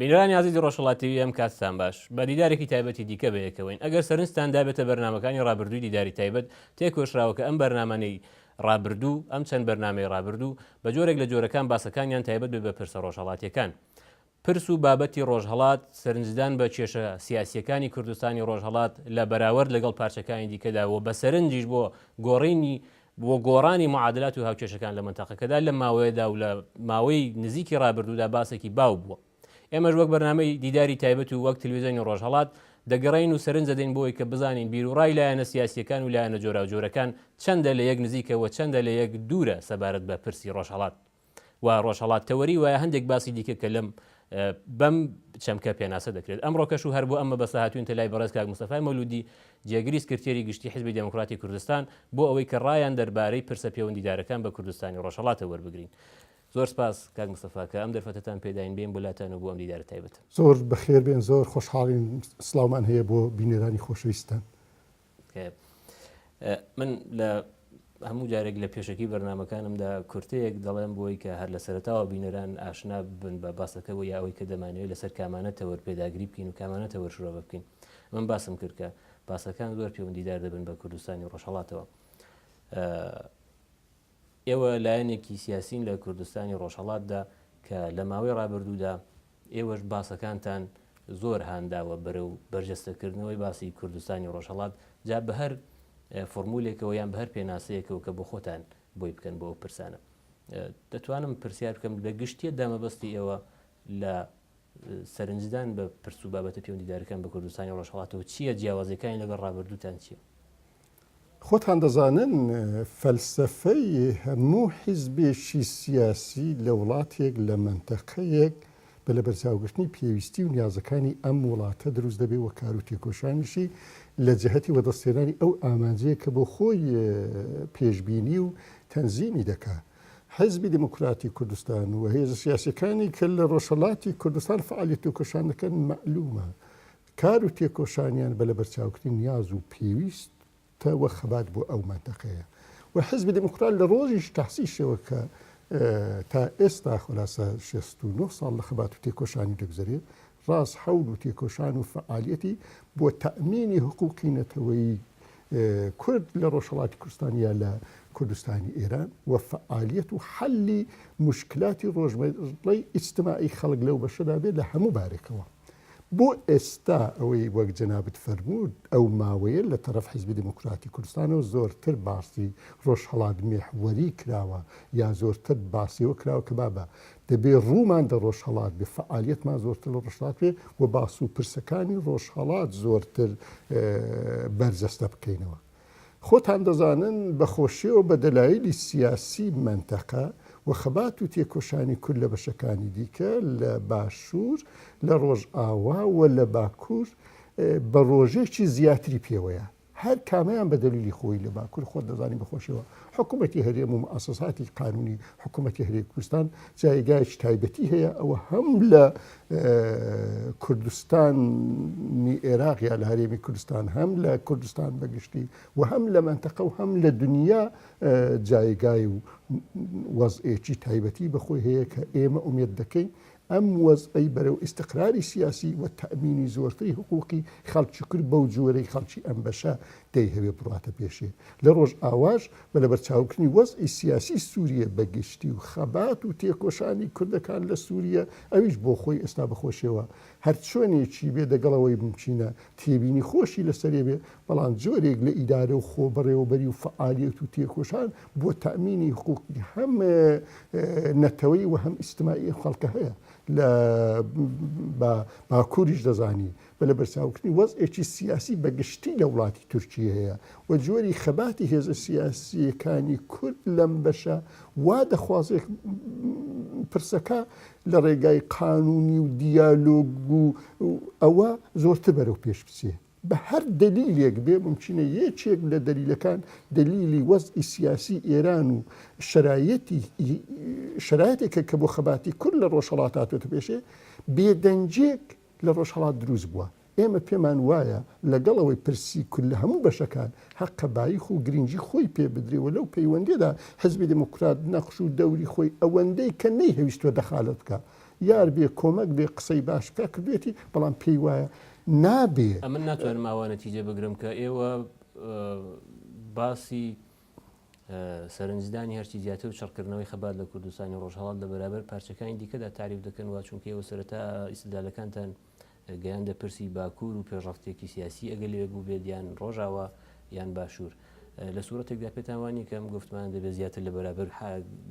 بینەرانی ئازیزی ڕۆژهەڵات تیڤی ئەم کاتتان باش، بە دیدارێکی تایبەتی دیکە بەیەکەوەین، ئەگەر سەرنجتان دابێتە بەرنامەکانی ڕابردووی دیداری تایبەت تێکۆشراوە کە ئەم بەرنامانەی ڕابردوو ئەم چەند بەرنامەی ڕابردوو بە جۆرێک لە جۆرەکان باسەکانیان تایبەت بێ بە پرسە ڕۆژهەڵاتیەکان پرس و بابەتی ڕۆژهەڵات سەرنجدان بە کێشە سیاسیەکانی کوردستانی ڕۆژهەڵات لە بەراورد لەگەڵ پارچەکانی دیکەدا و بە سەرنجیش بۆ گۆڕینی بۆ گۆڕانی معادلات و هاوکێشەکان لە مەنتەقەکەدا لەم ماوەیەدا و لە ماوەی نزیکی ڕابردوودا باسێکی باو بووە. ئێمەش وەک بەرنامەی دیداری تایبەت و وەک تلویزیۆنی ڕۆژهەڵات دەگەڕێین و سەرنج دەدەین بۆی کە بزانین بیروڕای لایەنە سیاسییەکان و لایەنە جۆراوجۆرەکان چەندە لە یەک نزیکە و چەندە لە یەک دوورە سەبارەت بە پرسی ڕۆژهەڵات. و ڕۆژهەڵات کە وەری وایە هەندێک باسی دیکە کە لەم بەم چەمکە پێناسە دەکرێت ئەمڕۆکەش و هەر بۆ ئەم مەبەستە هاتوینتە لای بەڕێز کاک مستەفای مەولودی جێگری سکرتێری گشتی حزبی دێموکراتی کوردستان بۆ ئەوەی کە ڕایان دەربارەی پرسە پێوەندیدارەکان بە کوردستانی ڕۆژهەڵاتە وەربگرین زۆر سپاس کاک مستەفا کە ئەم دەرفەتتان پێداین بێن بولاتان و بۆ ئەم دیدارە تایبەت زۆر بەخێر بێن زۆر خۆشحاڵین سلااومان هەیە بۆ بینەرانی خۆشەویستان من لە هەموو جارێک لە پێشەکی بەرنمەکانمدا کورتەیەک دەڵێم بۆی کە هەر لە سەرتاوە بینەران ئاشنا بن بە باسەکەەوە یا ئەوەی کە دەمانەوەی لەسەر کامانە تەوەر پێداگری بکەین و کامانە تەوەر شرۆ بکەین من باسم کردکە باسەکان زۆر پەیوەندیدار دەبن بە کوردستانی ڕۆژهڵاتەوە ئێوە لایەنێکی سیاسین لە کوردستانی ڕۆژهڵاتدا کە لە ماوەی ڕابردوودا ئێوەش باسەکانتان زۆر هان داوە بەرەو بەرجەستە کردنەوەی باسی کوردستانی ڕۆژهەڵات، جا بە هەر فۆرمولێکەوە یان بە هەر پێناسەیەکەوە کە بۆ خۆتان بۆی بکەن بۆ ئەو پرسانە. دەتوانم پرسیار بکەم لە گشتیت دا مەبەستی ئێوە لە سەرنجدان بە پرس و بابەتە پێوەندیدارەکان بە کوردستانی ڕۆژهەڵاتەوە چییە؟ جیاوازیەکانی لەگەڵ ڕابردووتان چییە؟ خۆتان دەزانن فەلسەفەی هەموو حیزبێکی سیاسی لە وڵاتێک، لە مەنتەقەیەک بە لەبەرچاوگرتنی پێویستی و نیازەکانی ئەم وڵاتە دروست دەبێ و کار و تێکۆشانیشی لە جەهەتی وەدەستهێنانی ئەو ئامانجەیە کە بۆ خۆی پێشبینی و تەنزیمی دەکا. حیزبی دێمۆکراتی کوردستان و هێزە سیاسییەکانی کە لە ڕۆژهەڵاتی کوردستان فەعالیەت و تێکۆشان دەکەن مەعلوومە کار و تێکۆشانیان بە لەبەرچاوکردنی نیاز و پێویستە و خەبات بۆ ئەو مەنتەقەیە و حیزبی دێموکڕات لە ڕۆژیش تەئسیسیەوە کە تا ئێستا خولاسە شێست و نۆ ساڵ لە خەبات و تێکۆشانی دەگوزەرێ ڕاست حەول و تێکۆشان و فەئالیەتی بۆ تەئمینی حقوقی نەتەوەی کورد لە ڕۆژهەڵاتی کوردستان یا لە کوردستانی ئێران و فەئالیەت و حەلی موشکلاتی ڕۆژمەڕەی ئیجتماعی خەڵک لەو بەشەدا بێ لە هەموو بارێکەوە. بۆ ئێستا ئەوەی وەک جەنابت فەرمووت ئەو ماوەیە لە تەڕەف حیزبی دێمۆکڕاتی کوردستانەوە زۆرتر باسی ڕۆژهەڵات میحوەری کراوە یا زۆرتر باسی ئەوە کراوە کە بابە دەبێ ڕوومان دە ڕۆژهەڵات بێ فەعالیەتمان زۆرتر لە ڕۆژهەڵات بێ و باس و پرسەکانی ڕۆژهەڵات زۆرتر بەرجەستە بکەینەوە. خۆتان دەزانن بە خۆشیەوە بە دەلایلی سیاسی مەنتەقە و خەبات و تێکۆشانی کورد لە بەشەکانی دیکە لە باشور لە ڕۆژئاوا و لە باکور بە ڕۆژێکی زیاتری پێوەیە هەر کامەیان بە دەلیلی خۆی لە باکور خۆت دەزانی بەخۆشەوە حکوومەتی هەرێم و مؤسساتی قانونی حکوومەتی هەرێ کوردستان جایگایش تایبەتی هەیە ئەوە هەم لە کوردستانی ئێراق یا لە هەرێمی کوردستان هەم لە کوردستان بە گشتی و هەم لە مەنتەقە و هەم لە دنیا جایگای و وەزئێکی تایبەتی بەخۆی هەیە کە ئێمە ئومێد دەکەین ئەم وەزئی بەرەو ئیسقراری سیاسی و تەمینی زۆرتری حقوقی خەڵکی کرد بەو جۆرەی خەڵکی ئەم بەشە دەیهەوێ بڕاتە پێشێ لە ڕۆژ ئاواش بە لەبەرچاوگرتنی وەزعی سیاسی سووریە بە گشتی و خەبات و تێکۆشانی کوردەکان لە سووریە، ئەویش بۆ خۆی ئێستا بە خۆشیەوە هەر چۆنێکی بێ دەگەڵ ئەوەی مومکینە تێبینی خۆشی لە سەرێ بێ، بەڵام جۆرێک لە ئیدارە و خۆبەڕێوەبەری و فەعالیەت و تێکۆشان بۆ تامینی حقوقی هەم نەتەوەیی و هەم ئیجتماعی ئەم خەڵکە هەیە لە باکووریش دەزانی و لەبەرچاوگرتنی وەزعێکی سیاسی بەگشتی لە وڵاتی تورکییەیە و جۆری خەباتی هێزە سیاسییەکانی کورد لەم بەشە وا دەخوازێت پرسەکە لە ڕێگای قانونی و دیالۆگ و ئەوە زۆرتر بەرەو پێش بچێ بە هەر دەلیلێک بێ ممکنە یەکێک لە دەلیلەکان دەلیلی وەزئی سیاسی ئێران و شرایەتی شرایەتێکە کە بۆ خەباتی کورد لە ڕۆژهڵاتاتێتە پێشێ بێدەنجێک لە ڕۆژهەڵات دروست بووە، ئێمە پێمان وایە لەگەڵ ئەوەی پرسی کورد لە هەموو بەشەکان هەقە بایخ و گرینگی خۆی پێ بدرێ و لەو پەیوەندیەدا حیزبی دێموکرات نەخش و دەوری خۆی ئەوەندەی کە نەیهەویستووە دەخالەت بکا یار بێ کۆمەک بێ قسەی باش بکا کردوێتی بەڵام پێی وایە نابێ ئەمن ناتوانم ئاوا نەتیجە بگرم کە ئێوە باسی سەرنجدانی هەرچی زیاتر و چڕکردنەوەی خەبات لە کوردستانی ڕۆژهەڵات لە بەرابەر پارچەکانی دیکەدا تاریف دەکەن وا چونکە ئێوە سەرەتا ئیستدلالەکانتان گەیاندە پرسی باکوور و پێشڕەفتێکی سیاسی ئەگەر لەوێ بووبێت یان ڕۆژاوا یان باشوور لە سوورەتێکدا پێتان وانە کە ئەم گفتمان دەبێت زیاتر لە بەرابەر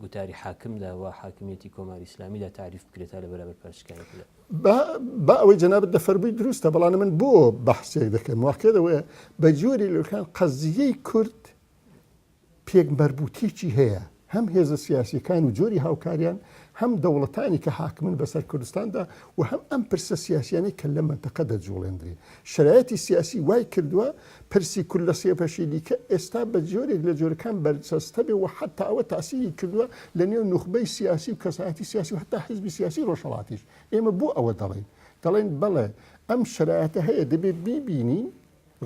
گوتاری حاکمدا و حاکمیەتی کۆماری ئیسلامیدا تعریف بکرێت تا لە بەرابەر پارچکانی با با ئەوەی جەنابت دەفەرمووی دروستە بەڵام من بۆ بەحسێک دەکەم واقع دەوەیە بە جۆری لەکان قەزیەی کورد پێک مربوتێکی هەیە هەم هێزە سیاسیەکان و جۆری هاوکاریان هەم دەوڵەتانی کە حاکمن بەسەر کوردستاندا و هەم ئەم پرسە سیاسیانی کە لە منتەقە دەجوڵێندرێ شرایەتی سیاسی وای کردووە پرسی کورد لە سێ بەشی دیکە ئێستا بە جۆرێک لە جۆرەکان بەرجەستە بێ و حەتا ئەوە تاسیری کردووە لە نێو نوخبەی سیاسی و کەسایەتی سیاسی و هەتا حیزبی سیاسی ڕۆژهەڵاتیش. ئێمە بۆ ئەوە دەڵێین؟ دەڵێین بەڵێ ئەم شەرایەتە هەیە دەبێ بیبینین،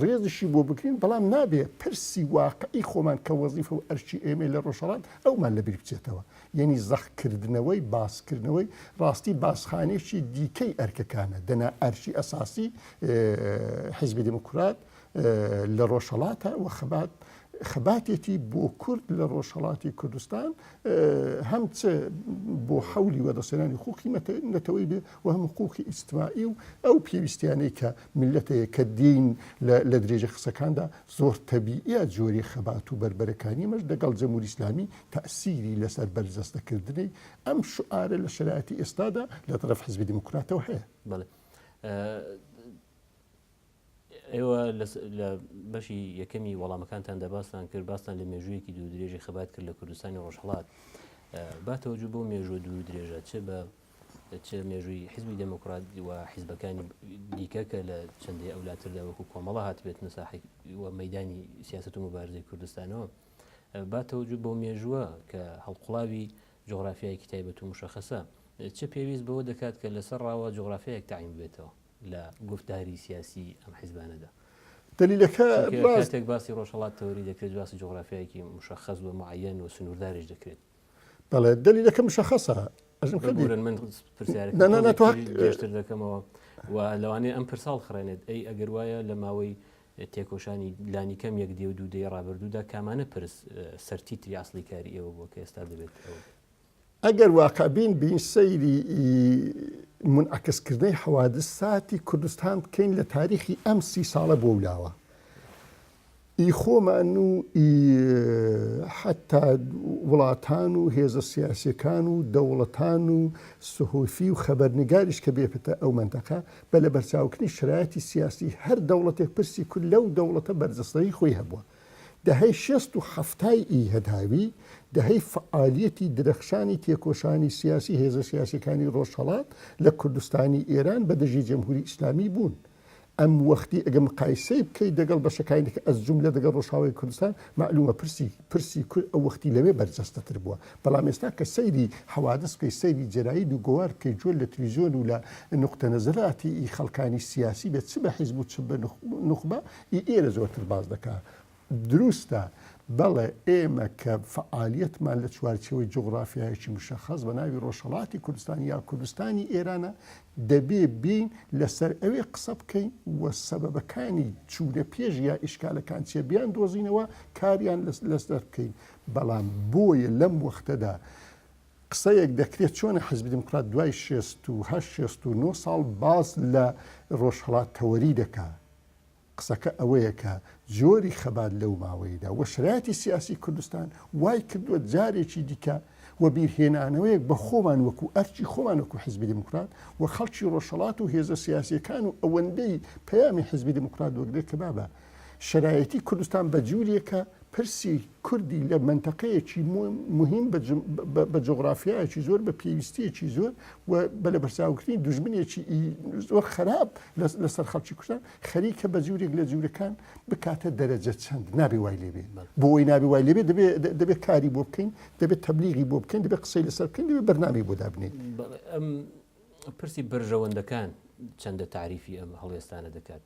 ڕێزیشی بۆ بگرین، بەڵام نابێ پرسی واقعی خۆمان کە وەزیفە و ئەرکی ئێمەیە لە ڕۆژهەڵات ئەومان لە بیر بچێتەوە. یەنی زەق کردنەوەی باس کردنەوەی ڕاستی باسخانێکی دیکەی ئەرکەکانە دەنا ئەرکی ئەساسی حیزبی دێموکرات لە ڕۆژهەڵاتە و خەبات خەباتێتی بۆ کورد لە ڕۆژهەڵاتی کوردستان هەم چ بۆ حەولی وەدەسێنانی خوقی نەتەوەی بێ و هەم حقوقی ئیجتماعی و ئەو پێویستیانەی کە ملەتەیە کە دین لە درێژە قسەکاندا زۆر تەبیە جۆری خەبات و بەربەرەکانی مەش دەگەڵ جەمهوری ئیسلامی تەئسیری لەسەر بەرجەستەکردنی ئەم شوئارە لە شەرایەتی ئێستادا لە تەرەف حیزبی دیموکراتەوە هەیە. بەڵێ. ئێوە لە بەشی یەکەمی وەڵامەکانتاندا باستان کرد باستان لە مێژوویەکی دوو درێژی خەبات کرد لە کوردستانی ڕۆژهڵات باتەوەجو بۆ مێژوە دوو درێژە چ بە چ مێژووی حزبی دەموکرات و حیزبەکانی دیکە کە لە چندی ئەولاتردا وەکو کۆمەڵە هاتبێت نساحی و مەدانی سیاست و مبارزی کوردستانەوە با تەوجو بەو مێژووە کە هەڵقوڵاوی جوغرافیایەکی تایبەت و موشەخەسە چ پێویست بەوە دەکات کە لەسەر ڕاوە جوغرافیایەک تەعین ببێتەوە لە گوفتاری سیاسی ئەم حیزبانەدا؟ دەلیلەکە چونکە کاتێک باسی ڕۆژهەڵات تەوری دەکرێت باسی جوغرافیایەکی موشەخەس و موعەیەن و سنوورداریش دەکرێت. بەڵێ دەلیلەکە مشخصە ئەژم کردن من پرسیارێکتر دەکەمەوە و لەوانەیە ئەم پرساڵ خڕێنێت ئەی ئەگەر وایە لە ماوەی تێکۆشانی لانی کەم یەک دێ و دوو دەی ڕابردوودا کامانە پرس سەرتی تری ئاسلی کاری ئێوە بۆ کە ئێستا دەبێت ئەگەر واقعبین بین سەیری منعکسکردنەی حەوادث ساتی کوردستان بکەین لە تاریخی ئەم سی ساڵە بۆ ولاوە ئی خۆمان و ئی حەتا وڵاتان و هێزە سیاسیەکان و دەوڵەتان و سهۆفی و خەبەرنگاریش کە بێپتە ئەو مەنتەقە بە لەبەرچاوکردنی شەرایتی سیاسی هەر دەوڵەتێک پرسی کورد لەو دەوڵەتە بەرجەستەیی خۆی هەبوە دەهەی شێست و حەفتای ئی هەداوی دەهەی فعالیەتی درەخشانی تێکۆشانی سیاسی هێزە سیاسیەکانی ڕۆژهەڵات لە کوردستانی ئێران بە دژی جەمهوری ئیسلامی بوون ئەم وەختی ئەگەر مقایسەی بکەیت دەگەڵ بەشەکانی دیکە ئەز جوملە دەگەڵ ڕۆژاوای کوردستان مەعلومە پرسی پرسی کورد ئەو وەختی لەوێ بەرجەستەتر بووە بەڵام ئێستا کە سەیری حەوادس بکەی سەیری جەرایید و گۆوار بکەی جۆل لە تلیزیۆن و لە نوقتە نەزراتی ئی خەڵکانی سیاسی بێت چ بە حیزب و چ بە نوخبە ئی ئێرە زۆرتر باس دەکا دروستە، بەڵێ ئێمە کە فەعالیەتمان لە چوارچێوەی جوغڕافیایەکی مشەخەس بە ناوی ڕۆژهەڵاتی کوردستان یا کوردستانی ئێرانە، دەبێ بێین لە سەر ئەوێ قسە بکەین و سەبەبەکانی چوونە پێش یا ئیشکالەکان چیە بیان دۆزینەوە کاریان لە سەر بکەین، بەڵام بۆیە لەم وەختەدا قسەیەک دەکرێ چۆنە حیزبی دیموکرات دوای شێست و هەشت شێست و نۆ ساڵ باس لە ڕۆژهەڵات تەوەری دەکا قسەکە ئەوەیە کە جۆری خەبات لەو ماوەیەدا و شرایەتی سیاسی کوردستان وای کردووە جارێکی دیکە وەبیرهێنانەوەیەک بە خۆمان وەکوو ئەرکی خۆمان وەکوو حیزبی دێموکرات و خەڵکی ڕۆژهەڵات و هێزە سیاسییەکان و ئەوەندەی پەیامی حیزبی دێموکرات دەگرێت کە بابە شرایەتی کوردستان بە جووریەکە پرسی کوردی لە مەنتەقەیەکی موهیم بە جوغرافیایەکی زۆر بە پێویستیەکی زۆر و بە لە بەرچاوکردنی دوژمنێکی زۆر خراپ لەسەر خەڵکی کوردستان خەریکە بە جورێک لە جورەکان بکاتە دەرەجە چەند نابێ وای لێبێ بۆی نابێ وای لێبێ دەبێت کاری بۆ بکەین دەبێت تەبلیغی بۆ بکەین دەبێت قسەی لەسەر بکەین دەبێت بەرنامی بۆ دابنێت پرسی بەرژەوەندەکان چەندە تعریفی ئەم هەڵێستانە دەکات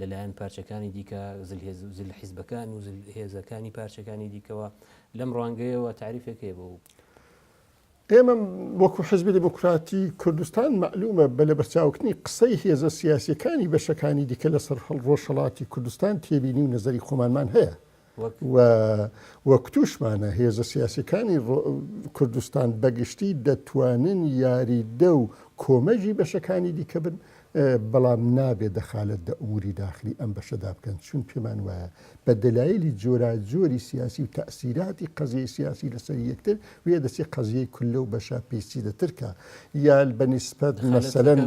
لەلایەن پارچەکانی دیکە زل حیزبەکان و هێزەکانی پارچەکانی دیکەوە لەم ڕوانگەیەوە تعریفێک هەیە بۆ ئێمە وەکو حزبی دموکراتی کوردستان معلومە بە لەبەرچاوکردنی قسەی هێزە سیاسیەکانی بەشەکانی دیکە لەسەر هەڵ ڕۆژهەڵاتی کوردستان تێبینی و نەزەری خۆمانمان هەیە و وەکوتوشمانە هێزە سیاسیەکانی کوردستان بەگشتی دەتوانن یاریدە و کۆمەگی بەشەکانی دیکە بن بەڵام نابێ دەخالەت دە ئوموری داخلی ئەم بەشەدا بکەن چون پێمان وایە بە دەلایلی جۆراجۆری سیاسی و تاسیراتی قەزیەی سیاسی لەسەر یەکتر ویە دەچی قەزیەی کولە و بەشە پیسیدە ترکە یا بە نیسبەت مەسەلەن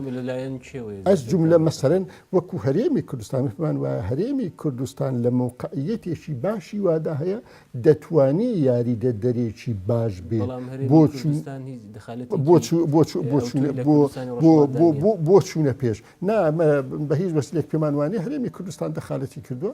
ئەس جوملە مەسەلەن وەکو هەرێمی کوردستان فمان وایە هەرێمی کوردستان لە مەوقعیەتێکی باشی وادا هەیە دەتوانی یاری دە دەرێکی باش بێ بۆ بۆ چوونە پێش نامە بە هیچ بەسلێک پێمانوانی هەرێمی کوردستان دەخالەتی کردووە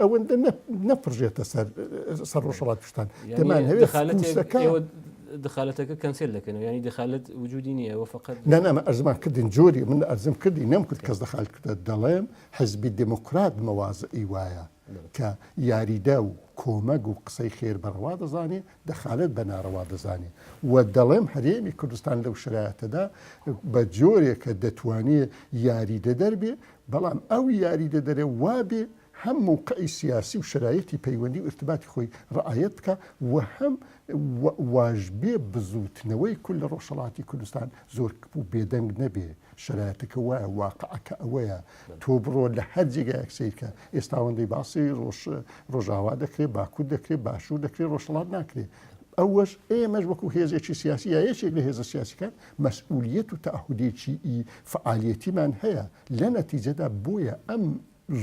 ئەوەندە نەپڕژێتە سەر سەر ڕۆژەڵات کوردستان دەمانهەوێت دخالەتەکە کەنسێل دەکەنەوە ینی دخالت وجودی نییە و فقط نەنامە ئەرزمان کردین جۆری من ئەرزم کردی نەم کرد کەس دەخال کردە دەڵێم حزبی دموکرات مەوازئی وایە کە یاریدە و کۆمەگ و قسەی خێر بەڕەوا دەزانێت دەخالەت بە ناڕەوا دەزانێت و دەڵێم هەرێمی کوردستان لەو شرایەتەدا بە جۆرێکە دەتوانێت یاریدەدەر بێت بەڵام ئەو یاریدەدەرە وابێ هەم مووقعی سیاسی و شرایەتی پەیوەندی و ارتباتی خۆی ڕعایەت بکە و هەم واژبێ بزووتنەوەی کول لە ڕۆژهەڵاتی کوردستان زۆر بێدەنگ نەبێ شرایەتەکە وایە واقعەکە ئەوەیە تۆ بڕۆ لە هەر جێگایەک سەیرکە ئێستا ئەوەندەی باسی ڕۆژ ڕۆژاوا دەکرێت باکوور دەکرێت باشوور دەکرێت ڕۆژهڵات ناکرێت ئەوەش ئێمەش وەکو هێزێکی سیاسی یا یەکێک لە هێزە سیاسیکان مەسئولیت و تاهودێکی ئی فعالیەتیمان هەیە لە نەتیجەدا بۆیە ئەم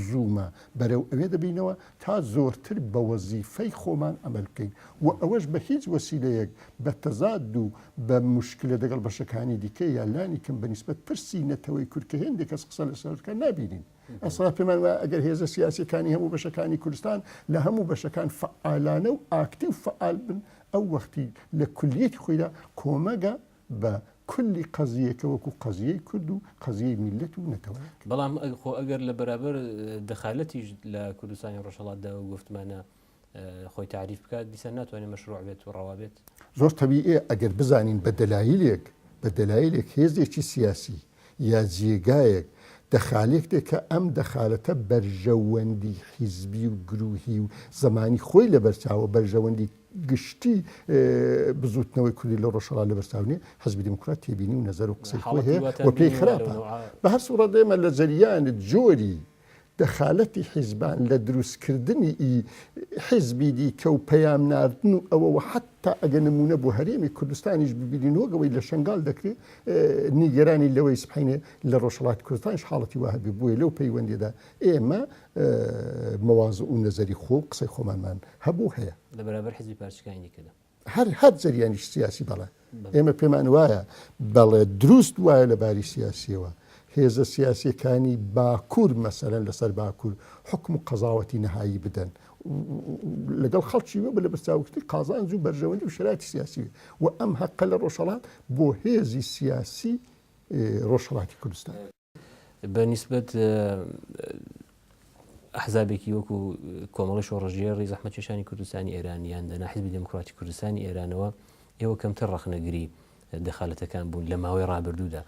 زوومە بەرەو ئەوێ دەبینەوە تا زۆرتر بە وەزیفەی خۆمان ئەمەل بکەین و ئەوەش بە هیچ وەسیلەیەک بە تەزاد و بە موشکلە دەگەڵ بەشەکانی دیکە یا لانی کەم بە نیسبەت پرسی نەتەوەی کورد کە هێندێک کەس قسە لەسەر دەکەن نابینین. ئێستا پێمان وایە ئەگەر هێزە سیاسییەکانی هەموو بەشەکانی کوردستان لە هەموو بەشەکان فەعالانە و ئاکتیو فەعال بن ئەو وەختی لە کولیەتی خۆیدا کۆمەگە بە کولی قەزییەکە وەکو قەزییەی کورد و قەزییەی میللەت و نەتەوەیەک. بەڵام خۆ ئەگەر لە بەرابەر دەخالەتیش لە کوردستانی ڕۆژهەڵاتدا ئەو گۆفتمانە خۆی تاریف بکات دیسان ناتوانێت مەشروع بێت و ڕەوا بێت؟ زۆر تەبیئیە ئەگەر بزانین بە دەلایلێک بە دەلایلێک هێزێکی سیاسی یا جێگایەک، دەخالێکتێ کە ئەم دەخالەتە بەرژەوەندی حیزبی و گرووهی و زەمانی خۆی لەبەر چاوە، بەرژەوەندی گشتی بزووتنەوەی کوردی لە ڕۆژهەڵات لەبەر چاو نییە، حیزبی دێموکرات تێبینی و نەزەر و قسەی خۆی هەیە و پێی خراپە. بە هەر سووڕەت ئێمە لە جەریان جۆری. دەخالەتی حیزبان لە دروست کردنی ئی حیزبی دیکە و پەیام ناردن و ئەوە و حەتا ئەگە نموونە بۆ هەرێمی کوردستانیش ببینین وەک ئەوەی لە شەنگال دەکرێ نیگەرانی لەوەی سبحەینێ لە ڕۆژهەڵاتی کوردستانیش حاڵەتی وا هەبێ بۆیە لەو پەیوەندیەدا ئێمە مواضع و نەزەری خۆ و قسەی خۆمانمان هەبوو و هەیە. لە بەرابەر حیزبی پارچەکانی دیکەدا. هەر هەر جەریانیش سیاسی بەڵێ ئێمە پێمان وایە بەڵێ دروست وایە لە باری سیاسیەوە هێزە سیاسەکانی باکوور مەسەرەن لەسەر باکوور حکم و قەزاوەتی نەهایی بدەن لەگەڵ خەڵکی وە بە لە بەرچاوکتی قازانج و بەرژەوەندی و شراتی سیاسی و ئەم هەقە لە ڕۆژهڵات بۆ هێزی سیاسی ڕۆژهڵاتی کوردستان بە نیسبەت ئەحزابێکی وەکو کۆمەڵی شۆڕژێڕی زەحمەتێشانی کوردستانی ئێرانیان دەنا حزبی دموکراتی کوردستانی ئێرانەوە ئێوە کەمتر ڕخنەگری دەخالەتەکان بوون لە ماوەی ڕابردوودا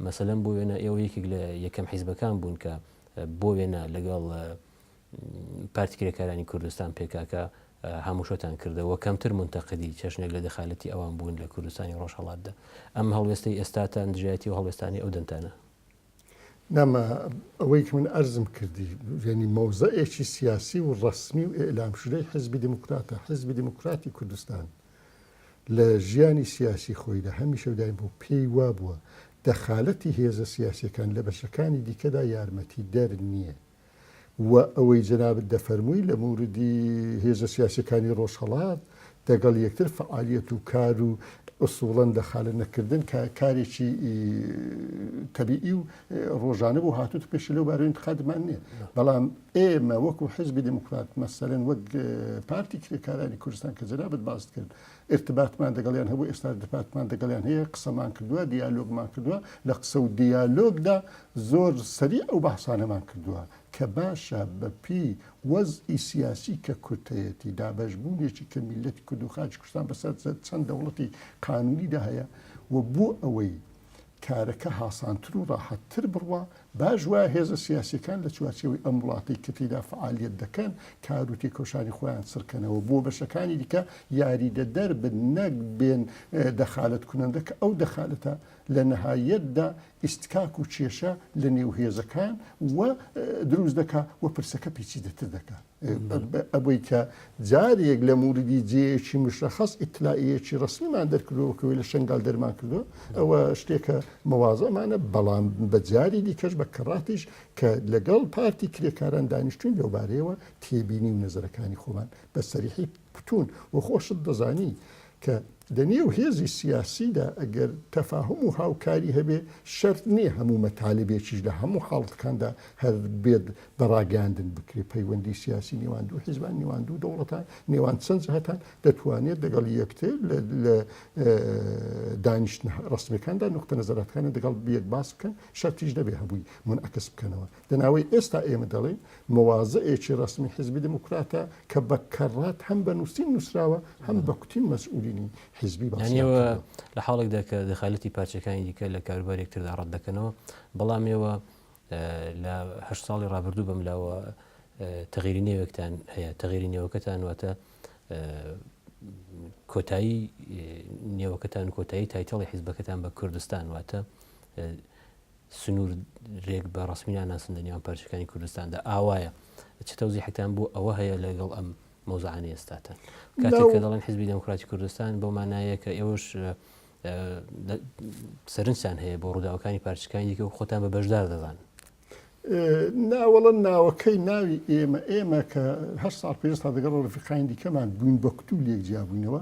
مەسەلەن بۆ وێنە ئێوە یەکێک لە یەکەم حیزبەکان بوون کە بۆ وێنە لەگەڵ پارتی کرێکارانی کوردستان پێکاکە هاموشۆتان کردەوە کەمتر منتەقدی چەشنێک لە دەخالەتی ئەوان بوون لە کوردستانی ڕۆژهڵاتدا ئەم هەڵوێستی ئێستاتان دژایەتی و هەڵوێستانی ئەو دەنتانە نامە ئەوەی کە من ئەرزم کردی یعنی مەوزەیەکی سیاسی و ڕسمی و ئێلام شدەی حزبی دموکراتە حزبی دموکراتی کوردستان لە ژیانی سیاسی خۆیدا هەمیشە و دایم بۆ پێی وا بووە دەخالەتی هێزە سیاسەکان لە بەشەکانی دیکەدا یارمەتی دەر نییە و ئەوەی جەنابت دەفەرمووی لە موردی هێزە سیاسیەکانی ڕۆژهەڵات دەگەڵ یەکتر فەعالیەت و کار و ئسوڵەن دەخالە نەکردن کە کارێکی تەبیئی و ڕۆژانە بۆ هاتوت پێش لەو بارە انتقادمان نییە بەڵام ئێمە وەکو حزبی دموکرات مەسەرەن وەک پارتی کرێکارانی کوردستان کە جەنابەت باست کرد ئیرتباتمان دەگەڵیان هەبوو ئێستاش ئیرتباتمان دەگەڵیان هەیە قسەمان کردوە دیالۆگمان کردوە لە قسە و دیالۆگدا زۆر سەریع ئەو بەحسانەمان کردوە کە باشە بە پێی وەزعی سیاسی کە کورد هەیەتی دابەش بوونێکی کە میللەتی کورد و خاکی کوردستان بەسەر چەند دەوڵەتی قانونیدا هەیە و بۆ ئەوەی کارەکە هاسانتر و راحەتتر بڕوا، باش وایە هێزە سیاسییەکان لە چوارچێوەی ئەم وڵاتەی کە تێیدا فەعالییەت دەکەن، کار و تێکۆشانی خۆیان چڕکەنەوە بۆ بەشەکانی دیکە یاریدەدەر بن نەک بێن دەخالەتکونەندە کە ئەو دەخالەتە لە نەهاییەتدا ئیستکاک و کێشە لە نێو هێزەکان و دروست دەکا و پرسەکە پیچیدەتر دەکا. ئەوەی کە جارێک لە موردی جێیەکی مشەخەس ئیتلائیەکی ڕەسمیمان دەرکردەوە کە وەی لە شەنگال دەرمان کردووە ئەوە شتێکە مەوازەمانە بەڵام بە جاری دیکەش بە کەڕاتیش کە لەگەڵ پارتی کرێکاران دانیشتوین لەوبارەیەوە تێبینی و نەزەرەکانی خۆمان بە سەریحی کوتون و خۆشت دەزانی کە لە نێو هێزی سیاسیدا ئەگەر تەفاهوم و هاوکاری هەبێ، شەرت نییە هەموو مەتالبێکیش لە هەموو حاڵتەکاندا هەر بێت بە ڕاگەیاندن بکرێ. پەیوەندی سیاسی نێوان دوو حیزبان، نێوان دوو دەوڵەتان، نێوان چەند جهتان، دەتوانێت دەگەڵ یەکتر لە لە دانیشتنە ڕەسمیەکاندا نوقتە نەزەراتەکانیان دەگەڵ یەک باس بکەن، شەرتیش نەبێ هەمووی مونعەکس بکەنەوە. لە ناوەی ئێستا ئێمە دەڵێین موازەیەکی ڕەسمی حیزبی دێموکراتە کە بە کەڕات هەم بە نووسین نووسراوە هەم بە کوتین مەسئولینی حیزبی باسییان یانیەوە کردووە. لە حاڵێکدا کە دەخالەتی پارچەکانی دیکە لە کاروباری یەکتردا ڕەت دەکەنەوە، بەڵام ئێوە ئە، لە هەشت ساڵی ڕابردوو بەم لاوە ئە، تەغییری نێوێکتان هەیە، تەغییری نێوەکەتان واتە ئە، کۆتایی ئە، نێوەکەتان و کۆتایی تایتەڵی حیزبەکەتان بە کوردستان واتە ئە، سنور رێک بە رەسمی ناناسن لە نێوان پارچەکانی کوردستاندا ئاوایە چ تەوزیحتان بۆ ئەوە هەیە لەگەڵ ئەم مەوزعانە ئێستاتان کاتێک کە دەڵێن حزبی دەموکراتی کوردستان بۆ مانایە کە ئێوەش سەرنجان هەیە بۆ ڕووداوەکانی پارچەکانی دیکە و خۆتان بە بەشدار دەزان ناوەڵە ناوەکەی ناوی ئێمە ئێمە کە هەر ساڵ پێستا دەگەڵ ڕفقاین دیکەمان بووین بە کتتو لێک جیابووینەوە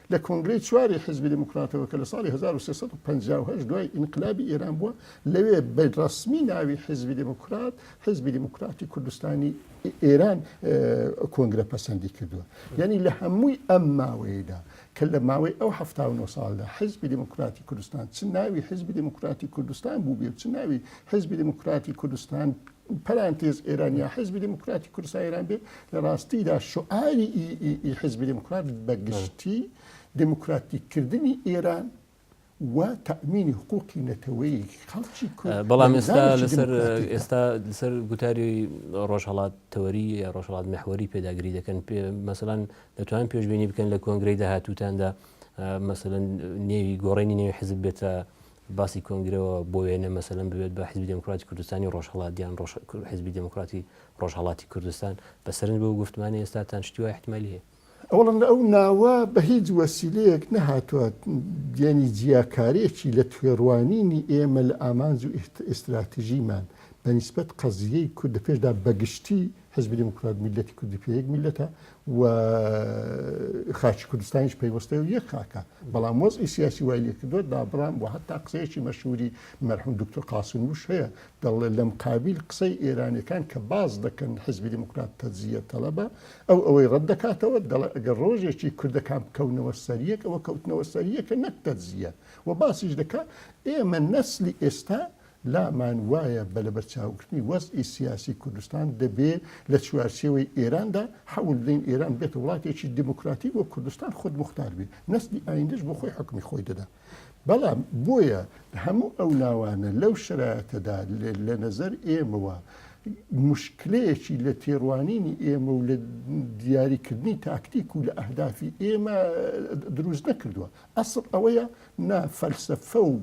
لە کۆنگرەی چواری حیزبی دێموکراتەوە کە لە ساڵی هەزار و سێ سەد و پەنجا و هەشت دوای ئینقلابی ئێران بووە، لەوێ بە ڕەسمی ناوی حیزبی دێموکرات، حیزبی دێموکراتی کوردستانی ئێران، کۆنگرە پەسەندی کردووە. یانی لە هەمووی ئەم ماوەیەدا کە لە ماوەی ئەو حەفتا و نۆ ساڵدا حیزبی دێموکراتی کوردستان چ ناوی حیزبی دێموکراتی کوردستان بووبێ و چ ناوی حیزبی دێموکراتی کوردستان، پەرانتێز ئێران یا حیزبی دیموکراتی کوردستان ئێران بێت لە ڕاستیدا شعاری حیزبی دیموکرات بە گشتی دیموکراتیکردنی ئێران و تەمینی حقوقی نەتەوەی خەڵکی کورد بەڵام ئێستا لەسەر ئێستا لەسەر گوتاری ڕۆژهڵات تەوەری یا ڕۆژهڵات محوەری پێداگری دەکەن پێ مەسەلاەن دەتوان پێشببینی بکەن لە کۆنگری داهاتوتاندا مەسەن نێوی گۆڕێنی نێوی حزب بێتە باسی کۆنگرەوە بۆ وێنە مەسەلەن ببێت بە حزبی دموکراتی کوردستانی ڕۆژهڵات یان ڕۆژ حزبی دموکراتی ڕۆژهڵاتی کوردستان بە سەرنج بۆ گفتمانی ئێستاتان شتی وای احتیمالی هەیە ئەوڵن ئەو ناوە بە هیچ وەسیلەیەک نەهاتووە یەنی جیاکارێکی لە تێڕوانینی ئێمە لە ئامانج و ئیستراتژیمان بە نیسبەت قەزییەی کورد لە پێشدا بە گشتی حیزبی دێموکرات میللەتی کوردی پێ یەک میللەتە و خاکی کوردستانیش پەیوەستەی و یەک خاکە بەڵام وەزعی سیاسی وای لێ کردووە دابڕام و هەتا قسەیەکی مەشهوری مەرحوم دکتۆر قاسم وش هەیە دەڵێ لەم قابیل قسەی ئێرانەکان کە باز دەکەن حیزبی دێموکرات تەجزیە تەلەبە ئەو ئەوەی ڕەت دەکاتەوە دەڵێ ئەگەر ڕۆژێکی کوردەکان بکەونەوە سەر یەک ئەوە کەوتنەوە سەر یەکە نەک تەجزیە و باسیش دەکات ئێمە نەسلی ئێستا لامان وایە بە لەبەرچاوگرتنی وەزعی سیاسی کوردستان دەبێ لە چوارچێوەی ئێراندا حەول بدەین ئێران ببێتە وڵاتێکی دیموکراتیک و کوردستان خودموختار بێ نەسلی ئایندەش بۆ خۆی حوکمی خۆی دەدا بەڵام بۆیە هەموو ئەو ناوانە لەو شەرایەتەدا لە نەزەر ئێمەوە مشکلەیەکی لە تێڕوانینی ئێمە و لە دیاریکردنی تاکتیک و لە ئەهدافی ئێمە دروست نەکردووە ئەسڵ ئەوەیە نا فەلسفە و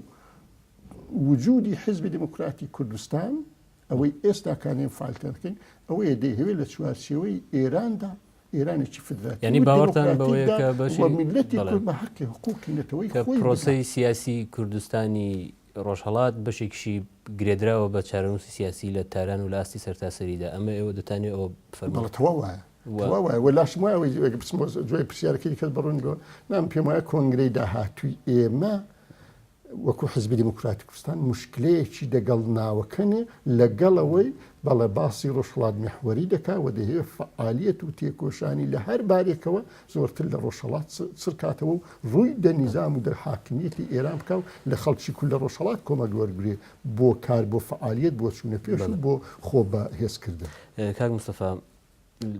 وجودی حیزبی دێمۆکراتی کوردستان، ئەوەی ئێستا کانی ئێمە فالتان دەکەین، ئەوەیە دەیهەوێت لە چوارچێوەی ئێراندا، ئێرانێکی فیدراتیڤ و دێمۆکراتیکدا و میللەتی کورد بە هەقی و حقووقی نەتەوەیی خۆی بگات. پرۆسەی سیاسی کوردستانی ڕۆژهەڵات بەشێکیشی گرێدراوە بە چارەنووسی سیاسی لە تاران و لە ئاستی سەرتاسەریدا، ئەمە ئێوە دەتانەوێت ئەوە بفەرموون؟ بەڵێ تەواو وایە، تەواو وایە و لاشم وایە ئەوەی ئەگەر بچمەوە دوای پرسیارەکەی دیکەت بە ڕوونی بۆ نام، پێم وایە کۆنگرەی داهاتووی ئێمە وەکو حیزبی دێموکراتی کوردستان موشکلەیەکی دەگەڵ ناوەکەنێ لەگەڵ ئەوەی بەڵێ باسی ڕۆژهەڵات میحوەری دەکا و دەیەوێ فەعالیەت و تێکۆشانی لە هەر بارێکەوە زۆرتر لە ڕۆژهەڵات چڕ کاتەوە و ڕووی دە نیزام و دە حاکمیەتی ئێران بکا و لە خەڵکی کورد لە ڕۆژهەڵات کۆمەک وەرگرێ بۆ کار بۆ فەعالیەت بۆ چوونە پێش و بۆ خۆ بە هێز کردن. کاک مستەفا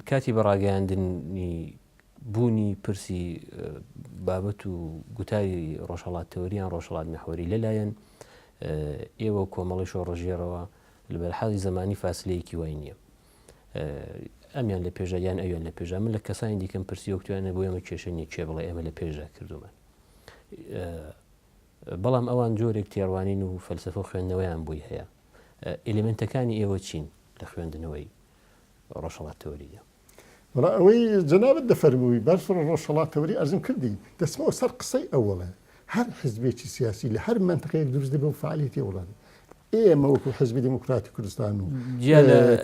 کاتی بە ڕاگەیاندنی بوونی پرسی بابەت و گوتاری ڕۆژهەڵات تەوەری یان ڕۆژهەڵات مەحوەری لەلایەن ئێوە و کۆمەڵی شۆڕژێرەوە لە بەرحاڵی زمانی فاسلەیەکی وای نییە ئەمیان لە پێشدا یان ئەویان لە پێشدا من لە کەسانی دیکەم پرسی وەکتوانە بۆ ئێمە کێشە نیە کێ بڵێ ئێمە لە پێشدا کردومان بەڵام ئەوان جۆرێک تێڕوانین و فەلسفە و خوێندنەوەیان بووی هەیە ئلیمنتەکانی ئێوە چین لە خوێندنەوەی ڕۆژهڵات تەوەریە وەڵا ئەوەی جەنابت دەفەرمووی باش ڕۆژهەڵاتەوەری ئەرزم کردی دەچمەوە سەر قسەی ئەوەڵێ هەر حزبێکی سیاسی لە هەر مەنتقەیەک دروست دەبێ و فعالیتی وڵات ئێمە وەکو حزبی دموکراتی کوردستان و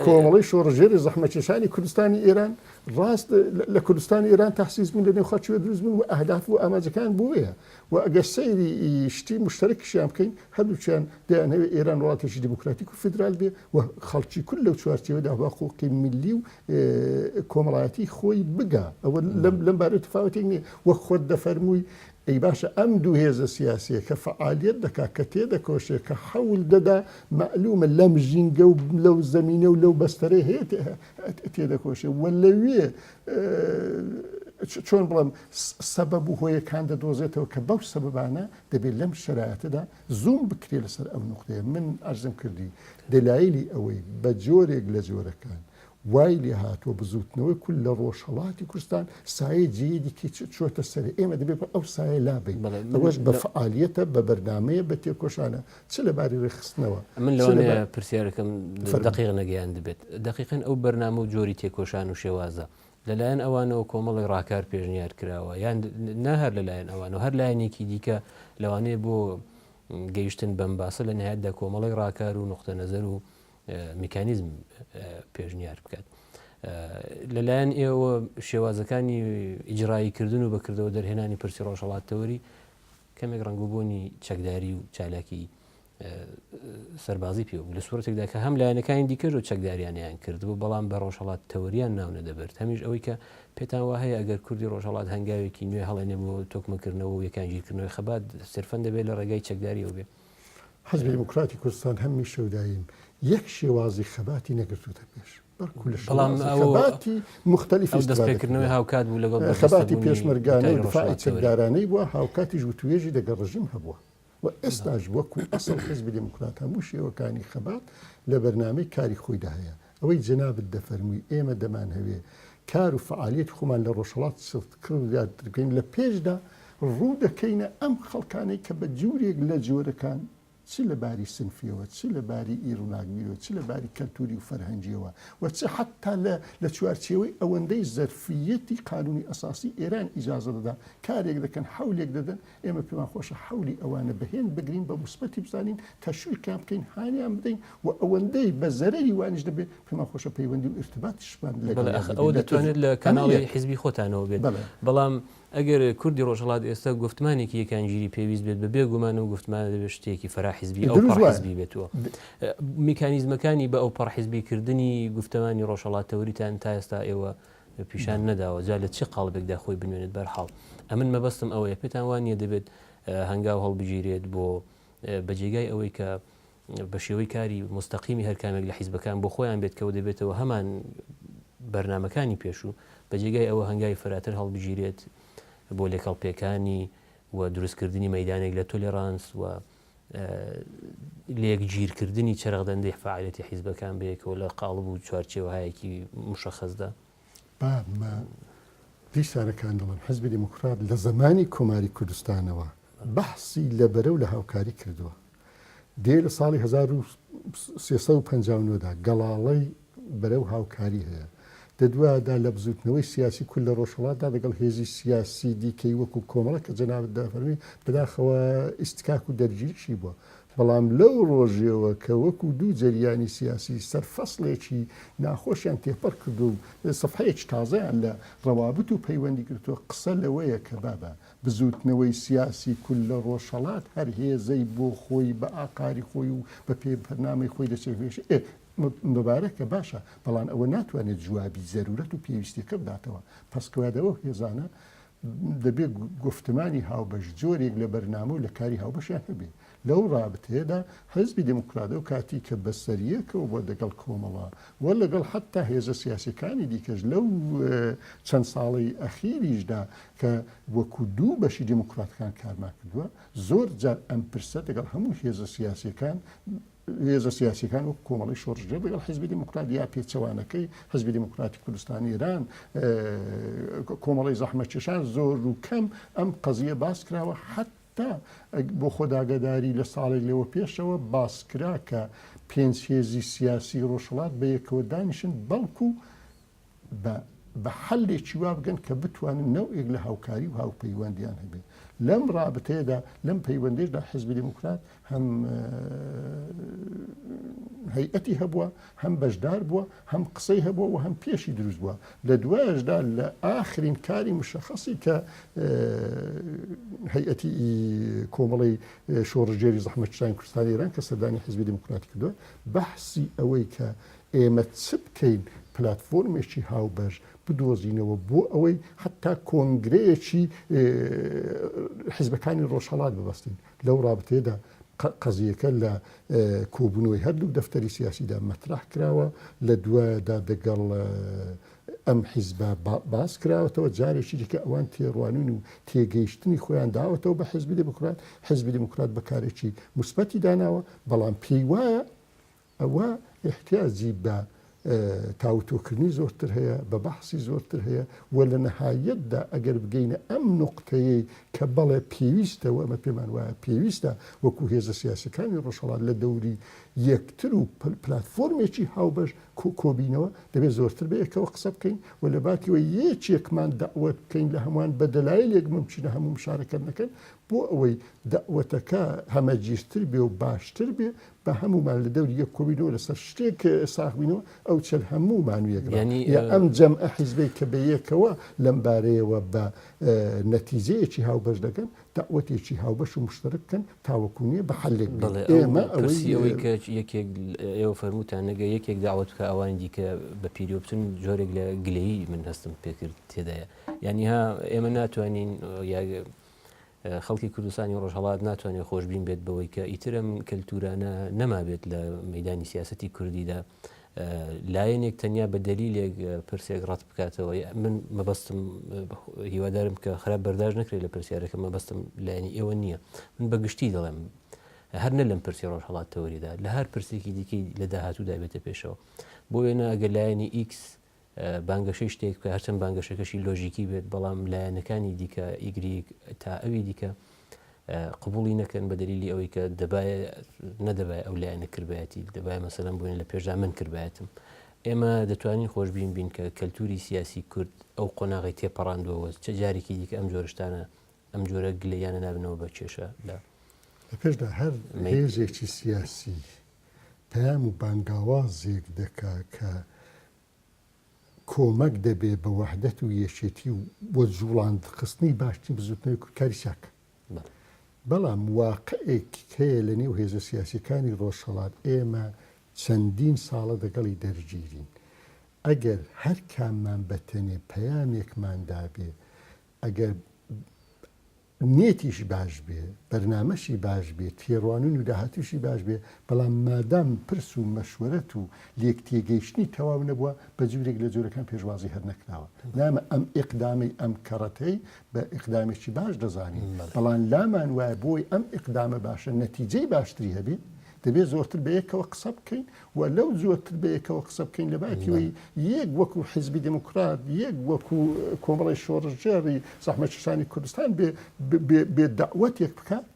کۆمەڵی شۆڕژێری زەحمەکێشانی کوردستانی ئێران ڕاست لە کوردستانی ئێران تاسیز بوون لە نێوخەچوە دروست بوون و ئەهداف و ئاماجەکان بۆیە وە ئەگەر سەیری شتی موشتەرەکیشیان بکەین هەردووکیان دەیانەوێت ئێران وڵاتێکی دیموکراتیک و فیدرال بێت و خەڵکی کورد لەو چوارچێوەدا بە حقوقی میللی و کۆمەڵایەتی خۆی بگا ئەوە لەم بارەوە تفاوتێک نییە وەک خۆت دەفەرمووی ئەی باشە ئەم دوو هێزە سیاسیە کە فەعالیت دەکات کە تێدەکۆشێت کە حەول دەدا مەعلومە لەم ژینگە و لەو زەمینە و لەو بەستەرەی هەیە تێدەکۆشێت و لەوێ چۆن بڵێم سەبەب و هۆیەکان دەدۆزێتەوە کە بەو سەبەبانە دەبێت لەم شەرایەتەدا زووم بکرێت لەسەر ئەو نقطەیە من ئەرزم کردی دەلایلی ئەوەی بە جۆرێک لە جۆرەکان وای لێ هاتووە بزوتنەوەی کول لە ڕۆژهڵاتی کوردستان سایە جێی دیکە چۆتە سەر ئێمە دەبێت بە ئەو سایە لابین ئەوەش بە فعالیەتە بە بەرنمەیە بە تێکۆشانە چ لە باری ڕێکخستنەوە. من لەوانەیە پرسیارەکەم دقیق نەگەیاندبێت دقیقەن ئەو بەرنامە و جۆری تێکۆشان و شێوازە لەلایەن ئەوانەوە کۆمەڵی ڕاکار پێشنیار کراوە یان نە هەر لەلایەن ئەوان و هەر لایەنێکی دیکە لەوانەیە بۆ گەیشتن بەم باسە لە نهایتدا کۆمەڵی ڕاکار و نقطە نەزەر و میکانیزم پێشنیار بکات. لەلایەن ئێوە شێوازەکانی ئیجرایی کردن و بەکردەوە دەرهێنانی پرسی ڕۆژهڵاتەوەری کەمێک ڕەنگوبوونی چەکداری و چالاکی سەربازی پێ بوو لە سوورەتێکدا کە هەم لایەنەکانی دیکەش و چەکداریانیان کرد بوو بەڵام بە ڕۆژهڵات تەوریان ناونە دەبرد هەمیش ئەوەی کە پێتان وە هەیە ئەگەر کوردی ڕۆژهڵات هەنگاوێکی نوێ هەڵێنێ بۆ تۆکمەکردنەوە و یەکانگیرکردنەوەی خەبات سرفەن دەبێت لە ڕێگای چەکداری ئەو بێ حزبی دیموکراتی کوردستان هەمیشە و دایم یەک شێوازی خەباتی نەگرتووتە پێش. بەڵام دەستپێکردنەوەی هاوکات بوو لەگەڵ خەباتی پێشمەرگانەی ڕفاعیدارانەی بووە هاوکاتیش وتوێژی دەگە ڕژیم هەبووە و ئێستاش وەکو ئەسڵ حزب دموکرات هەموو شێوەکانی خەبات لە بەرنمەی کاری خۆیدا هەیە ئەوەی جەنابت دەفەرمووی ئێمە دەمان هەوێ کار و فعالیت خۆمان لە ڕۆژهڵات سفت کرد زیاترکەین لە پێشدا ڕوو دەکەینە ئەم خەڵکانەی کە بە جورێک لە جۆرەکان چ لە باری سنفییەوە، چ لە باری ی ڕووناکبیرییەوە، چ لە باری کەلتووری و فەرهەنگییەوە و چ حەتتا لە لە چوارچێوەی ئەوەندەی زەرفییەتی قانوونی ئەساسی ئێران ئیجازە دەدا کارێک دەکەن، حەولێک دەدەن، ئێمە پێمان خۆشە حەولی ئەوانە بە هێند بگرین، بە موسبەتی بزانین، تەشویقیان بکەین، هانیان بدەین و ئەوەندەی بە زەرەری وانیش دەبێ، پێمان خۆشە پەیوەندی و ئیرتباتیشمان بەڵێ لەگەڵیان ئەخ ئەوە بگرین. دەتوانێت لە کاناڵی حیزبی خۆتانەوە بێت. بەڵێ. بەڵام ئەگەر کوردی ڕۆژهەڵات ئێستا گۆفتمانێکی یەکانگیری پێویست بێت بە بێ گومان ئەو گۆفتمانە دەبێت شتێکی فەرا حیزبی ئەو پەڕ حیزبی بێت و میکانیزمەکانی بە ئەو پەڕ حیزبی کردنی گۆفتمانی ڕۆژهەڵات تەوریتان تا ئێستا ئێوە پیشان نەداوە جا لە چی قاڵبێکدا خۆی بنوێنێت بەرحاڵ ئەمن مەبەستم ئەوەیە پێتان وان نیە دەبێت هەنگاو هەڵبگیرێت بۆ بە جێگای ئەوەی کە بە شێوەی کاری موستەقیمی هەر کامێک لە حیزبەکان بۆ خۆیان بێت کەوە دەبێتەوە هەمان بەرنامەکانی پێشوو بە جێگای ئەوە هەنگاوی فراتر هەڵبگیرێت بۆ لێکەڵ پێکانی و دروستکردنی مەدانێک لە تۆلێرانس و لێک گیرکردنی چرەغدەندەی فعالێتی حیزبەکان بەیەکەوە لە قاڵب و چوارچێوەهایەکی مشەخەزدا با بە پیش سارەکان دەڵێم، حیزبی دێموکڕات لە زەمانی کۆماری کوردستانەوە بەحسی لە بەرە و لە هاوکاری کردووە. دێ لە ساڵی هەزار و سێ سەد و پەنجا و نۆ دا گەڵاڵەی بەرە و هاوکاری هەیە. دە دوایەدا لە بزووتنەوەی سیاسی کورد لە ڕۆژهەڵاتدا لەگەڵ هێزی سیاسی دیکەی وەکوو کۆمەڵە کە جەنابت دەفەرمی بەداخەوە ئیستکاک و دەرگیریشی بووە. بەڵام لەو ڕۆژێوە کە وەکو دوو جەریانی سیاسی سەر فەسڵێکی ناخۆشیان تێپەڕ کردووە و سەفحەیەکی تازەیان لە ڕەوابت و پەیوەندی گرتووە، قسە لەوەیە کە بابە بزووتنەوەی سیاسی کورد لە ڕۆژهەڵات هەر هێزەی بۆ خۆی بە ئاقاری خۆی و بە پێی بەرنامەی خۆی دەچێژێ. ئێ مبارەکە باشە، بەڵام ئەوە ناتوانێت جوابی زەرورەت و پێویستیەکە بداتەوە. پەسکوادەوە و هێزانە دەبێت گوفتمانی هاوبەش جۆرێک لە بەرنامە و لە کاری هاوبەشیان هەبێت. لەو ڕابتەیەدا حیزبی دێموکرات ئەو کاتی کە بە سەریەکەوە بووە دەگەڵ کۆمەڵە و لەگەڵ حەتتا هێزە سیاسیەکانی دیکەش لەو چەند ساڵەی ئەخیریشدا کە وەکوو دوو بەشی دێموکراتەکان کارمان کردووە زۆر جار ئەم پرسە دەگەڵ هەموو هێزە سیاسیەکان هێزە سیاسیەکان وەکو کۆمەڵەی شۆڕشگێڕ لەگەڵ حیزبی دیموکرات یا پێچەوانەکەی حیزبی دیموکراتی کوردستانی ئێران کۆمەڵەی زەحمەتکێشان زۆر و کەم ئەم قەزیە باس کراوە حەت تا بۆ خۆداگەداری لە ساڵێک لەوە پێشەوە باسکرا کە پێنج هێزی سیاسی ڕۆژهەڵات بە یەکەوە دانیشن بەڵکو بە بە حەلێکی وا بگەن کە بتوانن نەوئێک لە هاوکاری و هاوپەیوەندیان هەبێت لەم ڕابتەیەدا لەم پەیوەندێشدا حزبی دموکرات هەم هەیئەتی هەبووە هەم بەشدار بووە هەم قسەی هەبووە و هەم پێشی دروست بووە لە دوایشدا لە ئاخرین کاری مشەخصی کە هەیئەتی کۆمەڵی شۆڕژێری زەحمەتشتانی کوردستانی ایران کە سەردانی حزبی دموکراتی کردووە بەحسی ئەوەی کە ئێمە چ بکەین پلاتفۆرمێکی هاوبەش بدۆزینەوە بۆ ئەوەی حەتا کۆنگرەیەکی حزبەکانی ڕۆژهەڵات ببەستین لەو ڕابتەیەدا قەزیەکە لە کۆبوونەوەی هەردوو دەفتەری سیاسیدا مەترح کراوە لە دوایدا دەگەڵ ئەم حیزبە باس کراوەتەوە جارێکی دیکە ئەوان تێڕوانین و تێگەیشتنی خۆیان داوەتەوە بە حزبی دموکرات حزبی دموکرات بەکارێکی مثبەتی داناوە بەڵام پێی وایە ئەوا ئیحتیاجی بە تاوتۆکردنی زۆرتر هەیە، بە بەحسی زۆرتر هەیە و لە نەهایەتدا ئەگەر بگەینە ئەم نوقتەیەی کە بەڵێ پێویستە و ئەمە پێمان وایە پێویستە وەکوو هێزە سیاسییەکانی ڕۆژهەڵات لە دەوری یەکتر و پلاتفۆرمێکی هاوبەش کۆ بینەوە، دەبێ زۆرتر بەیەکەوە قسە بکەین و لە باتیوە یەکێکمان دەعوەت بکەین لە هەمووان بە دەلایلێک مومکینە هەموو مشارەکەت نەکەن بۆ ئەوەی دەعوەتەکە هەمەگیرتر بێ و باشتر بێ با هەموومان لە دەوری یەک کۆبینەوە لەسەر شتێک ساخ بینەوە ئەو چەند هەموومان و یەکڕا یا ئەم جەم حیزبێک کە بەیەکەوە لەم بارەیەوە بە نەتیجەیەکی هاوبەش دەکەن داوەتێکی هاوبەش و مشتەرک بکەن تاوەکوونیە بە حلێک بڵێ ئێمە ئەوەی کە یەکێک ئێوە فەرمووتان نەگە یەکێک داوت بکە ئەوانی دیکە بە پیرۆبتن جۆرێک لە گلەیی من هەستم پێکرد تێدایە یعنی ها ئێمە ناتوانین خەڵکی کوردستانی ڕۆژهەڵات ناتوانێت خۆشببین بێت بەوەی کە ئیترم کەلتورانە نەمابێت لە مەدانی سیاستی کوردیدا لایەنێک تەنیا بە دەلیلێک پرسێک ڕەت بکاتەوە من مەبەستم هیوادارم کە خراپ بەرداش نکرێت لە پرسیارەکە مەبەستم لایەنی ئێوە نییە من بە گشتی دەڵێم هەر نە لەم پرسی ڕۆژهڵات تەوەریدا لە هەر پرسێکی دیکەی لە داهاتوو دابێتە پێشەوە بۆ وێنە ئەگەر لایەنی ئیکس بانگەشەی شتێک بکە هەرچەند بانگەشەکەشی لۆژیکی بێت بەڵام لایەنەکانی دیکە ئیگریک تا ئەوی دیکە قبولی نەکەن بە دلیلی ئەوەی کە دەبایە نەدەبای ئەو لایەنە کردبایەتی دەبای مەسەلەن بووین لە پێشدا من کردبایەتم ئێمە دەتوانین خۆشببین بین کە کەلتوری سیاسی کورد ئەو قۆناغی تێپەڕاندوەوە چ جارێکی دیکە ئەم جۆرشتانە ئەم جۆرە گلیانە نابنەوە بە کێشە لە پێشدا هەر هێزێکی سیاسی پەیام و بانگاوازێک دەکا کە کۆمەک دەبێ بە وەحدەت و یەکێتی و بۆ جوڵاندخستنی باشترین بزوتنەوەی کوردکاری چاک. بەڵام واقعێک هەیە لە نێو هێزە سیاسیەکانی ڕۆژهەڵات ئێمە چەندین ساڵە دەگەڵی دەرگیرین. ئەگەر هەر کاممان بەتەنێ پەیامێکمان دابێ، ئەگەر. نیەتیشی باش بێ، بەرنامەشی باش بێ، تێڕوانن و داهاتووشی باش بێ، بەڵام مادام پرس و مەشوەرەت و لێک تێگەیشتنی تەواو نەبووە، بە جۆرێک لە جۆرەکان پێشوازی هەر نەکراوە. نامە ئەم ئیقدامەی ئەم کەڕەتەی بە ئیقدامێکی باش دەزانین، بەڵام لامان وایە بۆی ئەم ئیقدامە باشە نەتیجەی باشتری هەبێ، دەبێ زۆرتر بە یەکەوە قسە بکەین و لەو زۆرتر بەیەکەوە قسە بکەین لەباکیەوەی یەک وەکو حیزبی دێموکرات یەک وەکو کۆمەڵی شۆڕشگێڕی زەحمەتکێشانی کوردستان بێ بێ بێ دەعوەتێک بکات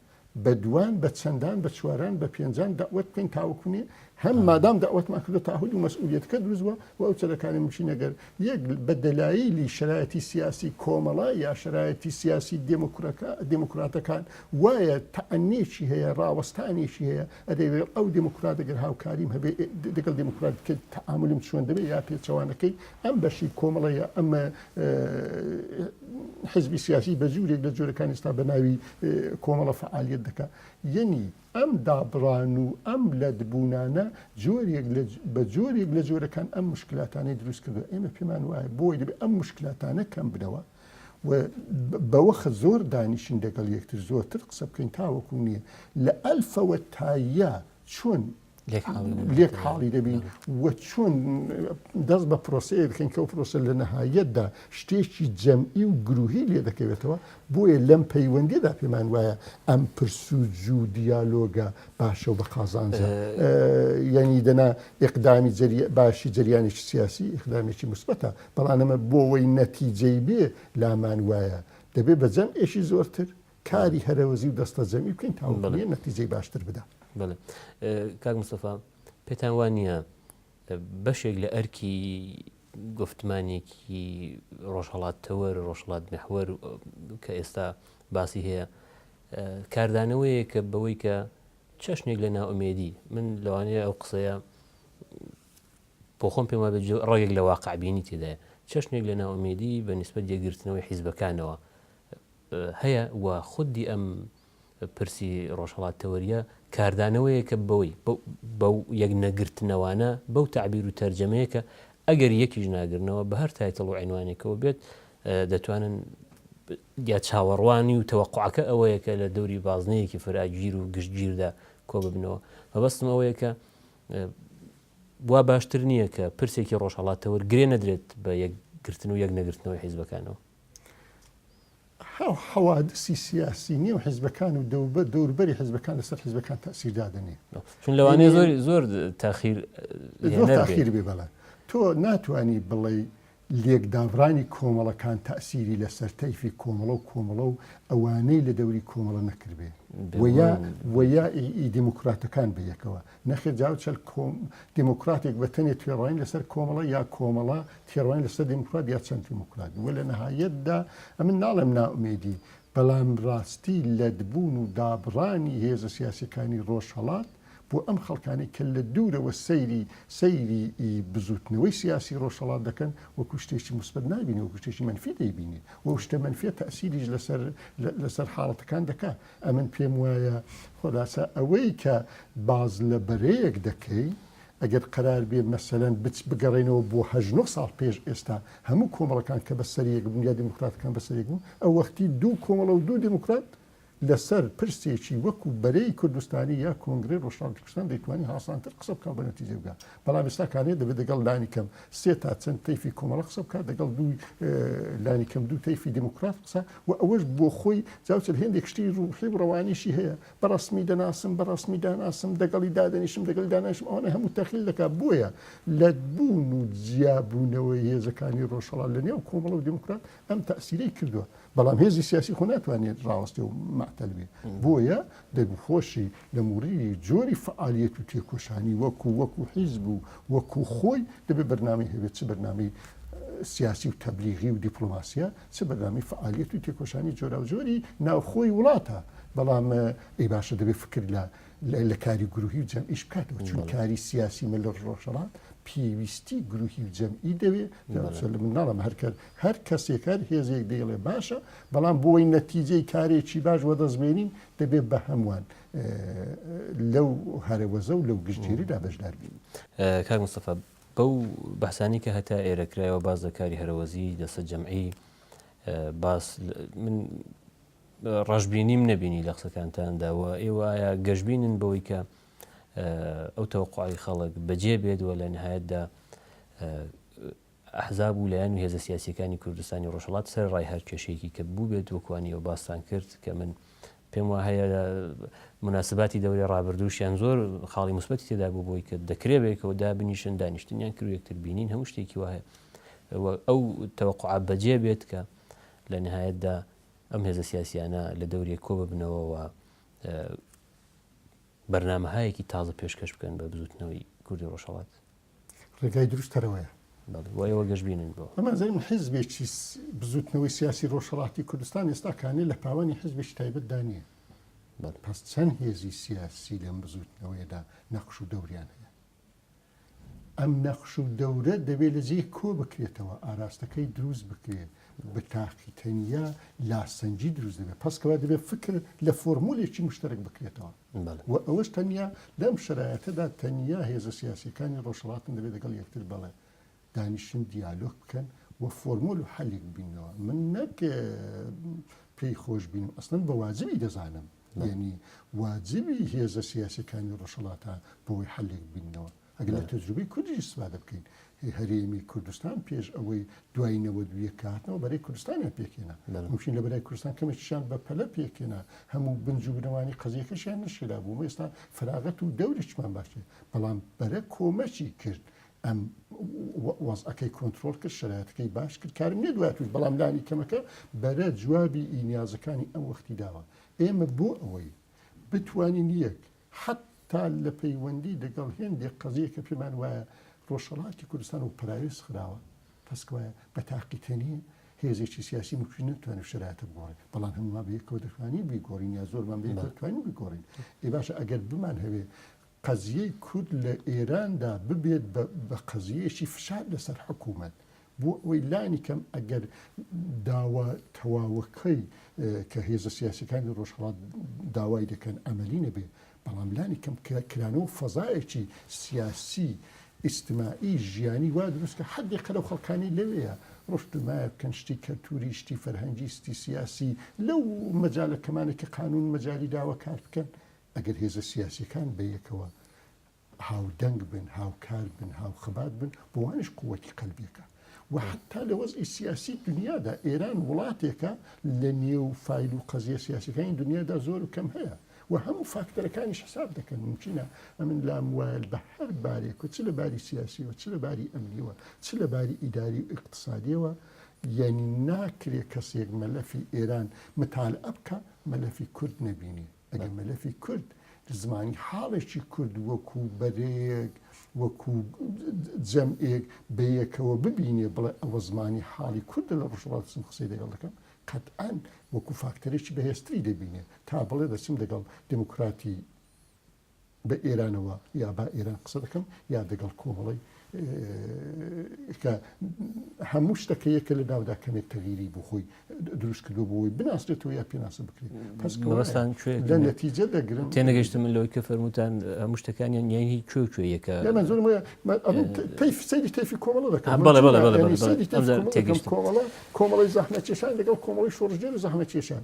بە دووان بە چەندان بە چواران بە پێنجان دەعوەت بکەین تاوەکوونێ هەم مادام دەعوەتمان کردو تاهود و مەسئولیەتەکە دروست بووە و ئەو چەرەکانی مچی نەگەر یەک بە دەلایلی شەرایەتی سیاسی کۆمەڵە یا شەرایەتی سیاسی دێموکرەکە دێموکراتەکان وایە تەعنێکی هەیە ڕاوەستانێکی هەیە ئەدەیڵێ ئەو دێموکراتە گەر هاوکاریم هەبێ دەگەڵ دێموکرات بکەی تەعامولم چۆن دەبێ یا پێچەوانەکەی ئەم بەشی کۆمەڵەیە ئەم حزبی سیاسی بە جوورێک لە جۆرەکانی ئێستا بە ناوی کۆمەڵە فعالیت دەکا یەنی ئەم دابڕان و ئەم لەدبوونانە جۆرێک بە جۆرێک لە جۆرەکان ئەم مشکلاتانەی دروست کردو ئێمە پێمان وایە بۆی دەبێت ئەم مشکلاتانە کەم بدەوە و بەوەخە زۆر دانیشین دەگەڵ یەکتر زۆرتر قسە بکەین تاوەکو نیە لە ئەلفەوە تا یە چۆن لێک حاڵی دەبین و چۆن دەست بە پرۆسەیە بکەین کە و پرۆسە لە نەهایەتدا شتێکی جەمعی و گروهی لێ دەکەوێتەوە بۆیە لەم پەیوەندیدا پێمان وایە ئەم پرس و جو دیالۆگە باشە و بە قازانجە یعنی دەنا ئقدامی باشی جریانێکی سیاسی ئقدامێکی مثبتە بەڵام ئەمە بۆوەی نەتیجەی بێ لامان وایە دەبێ بە جەم ئێکی زۆرتر کاری هەرەوەزی و دەستە جەمی بکەین تاڵێ نەتیجەی باشتر بدا کاک مسەفا پێتان وان نییە بەشێک لە ئەرکی گفتمانێکی ڕۆژهڵات تەوەر ڕۆژڵات محوەر کە ئێستا باسی هەیە کاردانەوەیە کە بەوەی کە چەشنێک لە ناومێدی من لەوانەیە ئەو قسەیە بۆ خۆم پێم وابێت ڕەگێک لە واقع بینی تێدایە، چەشنێک لە نائومێدی بە نیسبەت یەکگرتنەوەی حیزبەکانەوە هەیە و خودی ئەم پرسی ڕۆژهەڵات تەوەریە کاردانەوەیەکە بەوەی بەو یەک نەگرتنەوانە بەو تعبیر و تەرجەمەیەکە ئەگەر یەکیش ناگرنەوە بە هەر تایتڵ و عێنوانێکەوە بێت دەتوانن یا چاوەڕوانی و تەوەقعەکە ئەوەیە کە لە دەوری بازنەیەکی فراگیر و گشتگیردا کۆ ببنەوە مەبەستم ئەوەیە کە وا باشتر نییە کە پرسێکی ڕۆژهەڵاتەوە گرێ نەدرێت بە یەک گرتن و یەک نەگرتنەوەی حیزبەکانەوە؟ حەوادسی سیاسی نێو حزبەکان و دەوبە دەوربەری حزبەکان لەسەر حزبەکان تاسیر دادنێ چون لەوانێ زۆر زۆر تاخیر تاخیر بێ بەڵە تۆ ناتانی بڵێ لێکدابڕانی کۆمەڵەکان تەئسیری لەسەر تەیفی کۆمەڵە و کۆمەڵە و ئەوانەی لە دەوری کۆمەڵە نەکردبێ و یا و یا ی ئی دێمۆکڕاتەکان بە یەکەوە. نەخێر جا و چەند کۆم دێمۆکڕاتێک بە تەنێ توێڕاین لەسەر کۆمەڵە یا کۆمەڵە تێڕاین لەسەر دێمۆکڕات یا چەند دێمۆکڕات و لە نەهایەتدا ئەمن ناڵێم نائومێدی بەڵام ڕاستی لەت بوون و دابڕانی هێزە سیاسیەکانی ڕۆژهەڵات بۆ ئەم خەڵکانەی کە لە دوورەوە سەیری سەیری ی بزووتنەوەی سیاسی ڕۆژهەڵات دەکەن وەکو شتێکی موسبەت نابینن وەکو شتێکی مەنفی دەیبینن و ئەو شتە مەنفیە تەئسیریش لەسەر لەسەر حاڵەتەکان دەکا ئەمن پێم وایە خولاسە ئەوەی کە باس لە بەرەیەک دەکەی ئەگەر قەرار بێ مەسەلەن بچ بگەڕێنەوە بۆ هەژد نۆ ساڵ پێش ئێستا هەموو کۆمەڵەکان کە بەسەریەک بوون یا دیموکراتەکان بەسەریەک بوون ئەو وەختی دوو کۆمەڵە و دوو دیموکرات لەسەر پرسێکی وەکو بەرەی کوردستانی یا کۆنگرەی ڕۆژهەڵاتی کوردستان دەیتوانی هاسانتر قسە بکا و بە نەتیجە بگا بەڵام ئێستا کانێ دەبێت دەگەڵ لانی کەم سێ تا چەند تەیفی کۆمەڵە قسە بکات دەگەڵ دوو لانی کەم دوو تەیفی دیموکرات قسە و ئەوەش بۆ خۆی جاوچل هێندێک شتی ڕوحی و ڕەوانیشی هەیە بە ڕەسمی دەناسم بە ڕەسمی داناسم دەگەڵی دادەنیشم دەگەڵی داناشم ئەوانە هەموو تەخیل دەکات بۆیە لە بوون و جیابوونەوەی هێزەکانی ڕۆژهەڵات لە نێو کۆمەڵە و دیموکرات ئەم تەسیرەی کردووە بەڵام هێزی سیاسی خۆ ناتوانێت ڕاوەستێ و مەعتەل بێ بۆیە دەگوخۆشی لە مووری جۆری فعالیت و تێکۆشانی وەکو وەکو حیزب و وەکو خۆی دەبێ بەرنامی هەبێت چ بەرنامی سیاسی و تەبلیغی و دیپلۆماسیە چ بەرنامی فعالیت و تێکۆشانی جۆرا و جۆری ناوخۆی وڵاتە بەڵام ئەی باشە دەبێت فکر لە لە کاری گروهی و جەمعیش بکاتەوە چون کاری سیاسی مە لە ڕۆژەڵات پێویستی گروهی و جەمعی دەوێت لە مناڵم هەرکرد هەر کەسێک هەر هێزێک دەیڵێ باشە بەڵام بۆی نەتیجەی کارێکی باش وەدەست بێنین دەبێت بە هەمووان لەو هەرەوەزە و لەو گشتگیریدا بەشدار بین کاک مستەفا بەو بەسانی کە هەتا ئێرە کرایەوە باز لە کاری هەرەوەزی دەسە جەمعی باس من ڕژبینیم نەبینی لە قسەکانتانداوە ئێوەە گەشببینن بەوەی کە ئەو تەوقعی خەڵک بەجێ بێت و لە نهایەتدا ئەحزاب و لایەن و هێزە سیاسییەکانی کوردستانی ڕۆژهەڵات سەرەڕای هەر کێشەیەکی کە بووبێت وەکو وانی ئێوە باستان کرد کە من پێم وا هەیە موناسباتی دەورەی ڕابردووشیان زۆر خاڵی موسبەتی تێدا بوو بۆی کە دەکرێ بەیەکەوە دابنیشن دانیشتنیان کرد یەکتر بینین هەموو شتێکی وایە ئەو تەوەقع بەجێ بێت کە لە نهایەتدا ئەم هێزە سیاسیانە لە دەورێک کۆ ببنەوەەوە بەرنمەهایەکی تازە پێشکەش بکەن بە بزوتنەوەی کوردی ڕۆژهڵات ڕێگای دروست تەرەوەیە. بەڵێ بۆ ئێوە گەشبینن بۆ. بە مەرجی من حیزبێکی بزووتنەوەی سیاسی ڕۆژهەڵاتی کوردستان ئێستا کانێ لە پاوانی حیزبێکی تایبەتدا نییە. بەڵێ. پس چەند هێزی سیاسی لەم بزووتنەوەیەدا نەقش و دەوریان هەیە؟ ئەم نەقش و دەورە دەبێ لە جێ کۆ بکرێتەوە، ئاراستەکەی دروست بکرێ، بە تاقی تەنیا لاسەنگی دروست دەبێ. پس کەوە دەبێ فکر لە فۆرمولێکی مشتەرک بکرێتەوە. و ئەوەش تەنیا لەم شەرایەتەدا تەنیا هێزە سیاسییەکانی ڕۆژهەڵاتن دەبێت لەگەڵ یەکتر بەڵێ دانیشن دیالۆگ بکەن و فۆرمۆل و حەلێک ببینەوە من نەک پێی خۆش بینم ئەسڵەن بە واجبی دەزانم یعنی واجبی هێزە سیاسەکانی ڕۆژهڵاتە بۆی حلێک بینەوە ئەگەر لە تەجروبەی کوردیش ئیستفادە بکەین، هەرێمی کوردستان پێش ئەوەی دوای نەوەد و یەک کە هاتنەوە بەرەی کوردستانیان پێکهێنا، ممکن لە بەرای کوردستان کەمێکیشیان بە پەلە پێکهێنا، هەموو بنج و بنەوانی قەزییەکەشیان نەشێلابوو، ئەمە ئێستا فەراغەت و دەورێکمان باس کرد، بەڵام بەرە کۆمەکی کرد ئەم وەزعەکەی کۆنترۆڵ کرد، شەرایەتەکەی باش کرد، کارم نییە دواتریش، بەڵام لانی کەمەکە بەرە جوابی ئی نیازەکانی ئەم وەختی داوە. ئێمە بۆ ئەوەی بتوانین یەک حەتتا لە پەیوەندی لەگەڵ هێندێک قەزیە کە پێمان وایە ڕۆژهەڵاتی کوردستان و پەراوێز خراوە، تەسکوایە بە تاقیکەری هێزێکی سیاسی ممکن نەتوانێت شەرایتە بگۆڕێت، بەڵام هەموومان بە یەکەوە دەتوانین بیگۆڕین یا زۆرمان بە یەکەوە دەتوانین بیگۆڕین. ئێ باشە ئەگەر بمانهەوێ قەزیەی کورد لە ئێراندا ببێت بە قەزیەیەکی فشار لەسەر حکوومەت بۆ ئەوەی لانی کەم ئەگەر داوا تەواوەکەی کە هێزە سیاسیەکانی ڕۆژهەڵات داوای دەکەن ئەمەلی نەبێ بەڵام لانی کەم کرانەوە فەزایەکی سیاسی ئیسیستمائی ژیانی وا دروستکە حدی قەرە و خەڵکانی لەوەیە ڕشت و مایە بکەن شتی کەلتوری شتی فەرهەنگی ستی سیاسی لەو مەجالەکەمانێکی قانون مەجای داوە کار بکەن ئەگەر هێزە سیاسیەکان بەیەکەوە هاودەنگ بن، هاوکار بن، هاوخەبات بن، بۆوانیش قووتی قەلبیەکە و حەتتا لە وەزعی سیاسی دنیادا ئێران وڵاتێکە لە نێو فایل و قەزیە سیاسەکانی دنیادا زۆر و کەم هەیە و هەموو فاکتەرەکانیش حساب دەکەن ممکنە ئەمن لام وایل بە هەر بارێک و چ لە باری سیاسیەوە چ لە باری ئەمنیەوە چ لە باری ئیداری و اقتصادیەوە یعنی ناکرێ کەسێک مەلەفی ئێران متالعە بکە مەلەفی کورد نەبینێ ئەگەر مەلەفی کورد لە زمانی حاڵێکی کورد وەکو بەرەیەک وەکو جەمعێک بەیەکەوە ببینێ بڵێ ئەوە زمانی حاڵی کوردە لە ڕژڵاتزم قسەی دەگەڵ دەکەم قەتئەن وەکو فاکتەرێکی بەهێزتری دەبینێ تا بڵێ دەچم دەگەڵ دموکراتی بە ئێرانەوە یا با ئێران قسە دەکەم یا دەگەڵ کۆمەڵەی کە هەموو شتەکە یەکە لە ناودا کەمێک تەغیری بۆ خۆی دروست کردو بۆی بناسرێتەوە یا پێناسە بکرێت پسکەوەستان لە نەتیجە دەگرن تێنەگەشتم من لەوەی کە فەرموتان هەموو شتەکانیان یانی کوێ کوێ یەکە تەیفسەری تەفی کۆمەڵە دەکەم کۆمەڵی زەحمە چێشان لەگەڵ کۆمەڵی شۆڕژێر زەحمە چێشان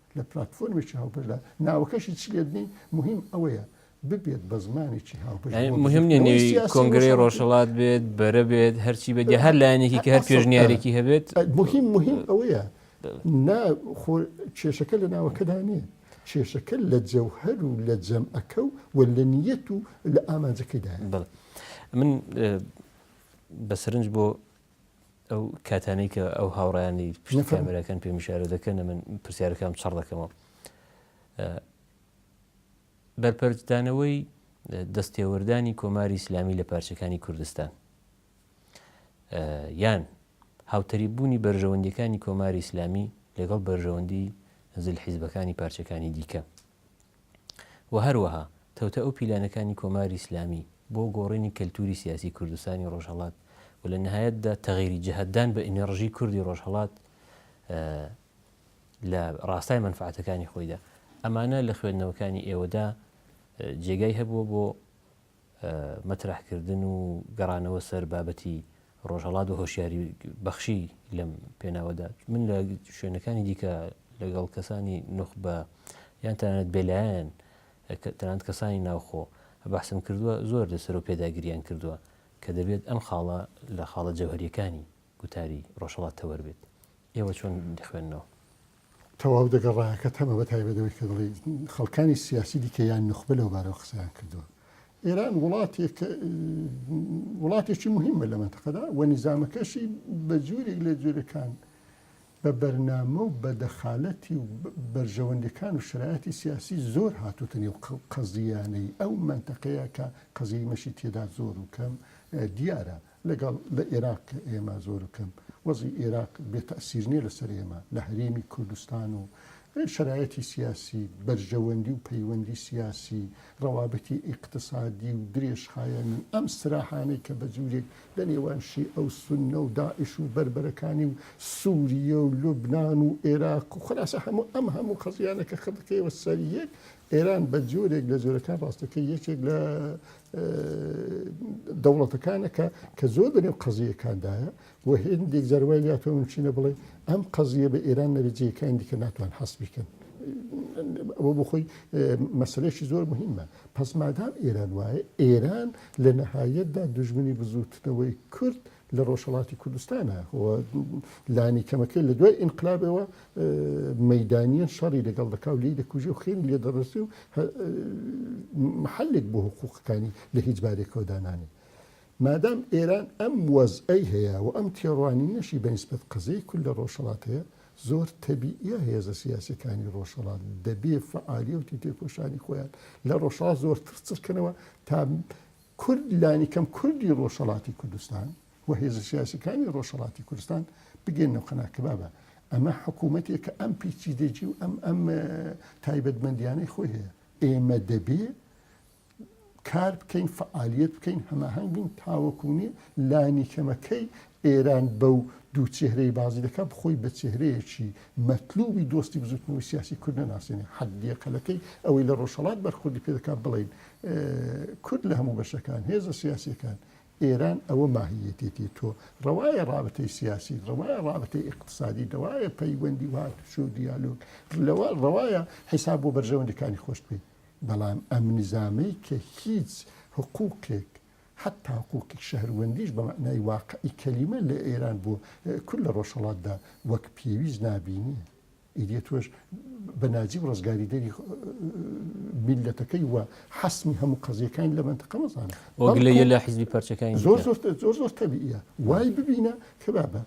لە پلاتفۆرمێکی هاوبەشدا ناوەکەشی چ لێت نین مهم ئەوەیە ببێت بە زمانێکی هاوبەش یعنی بۆ مهم نیە بزووتنەوەی نێوی سیاسی کۆنگرەی ڕۆژهەڵاتی. ڕۆژهەڵات بێت بەرە بێت هەرچی بێت یا هەر لایەنێکی کە هەر ئەسڵ- پێشنیارێکی هەبێت مهم مهم ئەوەیە نا خۆ کێشەکە لە ناوەکەدا نییە کێشەکە لە جەوهەر و لە جەمعەکە و و لە نیەت و لە ئامانجەکەیدایە بەڵێ من اه، بە سەرنج بۆ ئەو کاتانەی کە ئەو هاوڕیانی پشت کامێراکان پێ میشارە دەکەن من پرسیارەکەم چڕ دەکەمەوە بەرپەرچدانەوەی دەستێوەردانی کۆماری ئیسلامی لە پارچەکانی کوردستان یان هاوتەری بوونی بەرژەوەندەکانی کۆماری ئیسلامی لەگەڵ بەرژەوەندی زل حیزبەکانی پارچەکانی دیکە و هەروەها تەوتە ئەو پیلانەکانی کۆماری ئیسلامی بۆ گۆڕینی کەلتوری سیاسی کوردستانی ڕۆژهەڵات و لە نهایەتدا تەغیری جهت دان بە ئینێڕژی کوردی ڕۆژهەڵات لە ڕاستای مەنفعەتەکانی خۆیدا ئەمانە لە خوێندنەوەکانی ئێوەدا جێگای هەبووە بۆ مەترەح کردن و گەڕانەوە سەر بابەتی ڕۆژهەڵات و هۆشیاری بەخشی لەم پێناوەدا من لە شوێنەکانی دیکە لەگەڵ کەسانی نوخبە یان تەنانەت بێلایەن تەنانەت کەسانی ناوخۆ بەحسم کردووە زۆر لەسەر و پێداگریان کردووە کە دەبێت ئەم خاڵە لە خاڵە جەوهریەکانی گوتاری ڕۆژهەڵات تەوەر بێت. ئێوە چۆن دەخوێننەوە؟ تەواو دەگەڵ ڕایەکەت هەمە بە تایبەت ئەوەی کە دەڵێی خەڵکانی سیاسی دیکە یان نوخبە لەو بارەوە قسەیان کردووە. ئێران وڵاتێکە وڵاتێکی موهیمە لە مەنتەقەدا و نیزامەکەشی بە جۆرێک لە جۆرەکان بە بەرنامە و بە دەخالەتی و بەرژەوەندیەکان و شەرایەتی سیاسی زۆر هاتووتە نێو قەزییانەی ئەو مەنتەقەیە کە قەزیی مەشی تێدا زۆر و کەم دیارە. لەگەڵ لە ئێراق کە ئێمە زۆر کەم وەزعی ئێراق بێ تەئسیر نیە لەسەر ئێمە لە هەرێمی کوردستان و شەرایەتی سیاسی بەرژەوەندی و پەیوەندی سیاسی ڕەوابتی ئیقتسادی و درێژخایەنی ئەم سراحانەی کە بە جورێک لە نێوان شیئە و سونە و داعش و بەربەرەکانی و سوریە و لوبنان و ئێراق و خولاسە هەموو ئەم هەموو قەزیانەکە خە بکەیەوە سەر یەک ئێران بە جۆرێک لە جۆرەکان ڕاستەکەی یەکێک لە دەوڵەتەکانە کە کە زۆر دەنێو قەزیەکاندایە و هێندێک جاروای لاتەوە چینە بڵێ ئەم قەزیە بە ئێران نەرجیەکان دیکە ناتوان حەست بکەن ئەوە بۆ خۆی مەسلێکی زۆر مهمە پس مادام ئێران وایە ئێران لە نەهایەتدا دژمنی بزوتنەوەی کورد لە ڕۆژهەڵاتی کوردستانە و لانی کەمەکەی لە دوای ئینقلابەوە مەیدانیان شەڕی لەگەڵ دەکا و لێی دەکوژێ و خێری لێ دەڕسێ و محلێک بۆ حقووقەکانی لە هیچ بارێکەوە دانانێ مادام ئێران ئەم وەزعەی هەیە و ئەم تێڕوانینەشی بەنسبەت قەزەی کول لە ڕۆژهەڵات هەیە زۆر تەبیە هێزە سیاسەکانی ڕۆژهەڵات دەبێ فعالیەتی تێکۆشانی خۆیان لە ڕۆژهڵات زۆر ترچڕکەنەوە تا کورد لانیکەم کوردی ڕۆژهەڵاتی کوردستان و هێزە سیاسیەکانی ڕۆژهەڵاتی کوردستان بگەینەوە قەناع کە بابە ئەمە حکوومەتێکە ئەم پیچیدەجی و ئەم ئەم تایبەتمەندیانەی خۆی هەیە ئێمە دەبێ کار بکەین فعالیت بکەین هەماهنگ بین تاوەکوونی لانی کەمەکەی ئێران بەو دوو چهرەی بازی دەکە بخۆی بە چهرەیەکی مەتلوبی دۆستی بزوتنەوەی سیاسی کورد ناسێنێ حەدیقەلەکەی ئەوەی لە ڕۆژهڵات بەرخودی پێ دەکات بڵین کورد لە هەموو بەشەکان، هێزە سیاسیەکان، ئێران ئەوە ماهیەتێتی تۆ، ڕەوایە ڕابتەی سیاسی، ڕەوایە ڕابتەی ئیقتسادی، دەوایە پەیوەندی و هاتوچۆ و دیالۆگ، لەوە ڕەوایە حیساب بۆ بەرژەوەندیەکانی خۆشت بکەی، بەڵام ئەم نیزامەی کە هیچ حقوقێک حەتا حقوقی شەهروەندیش بە مەعنای واقعی کەلیمە لە ئێران بۆ کورد لە ڕۆژهەڵاتدا وەک پێویست نابینێ. ئیدی تۆش بە ناجیب ڕزگاری دەری میللەتەکەی و حەسمی هەموو قەزیەکانی لە مەنتەقە مەزانە وەگلەیە لە حزبی پەرچەکانی زۆر زۆر زۆر زۆر تەبیە وای ببینە کە بابە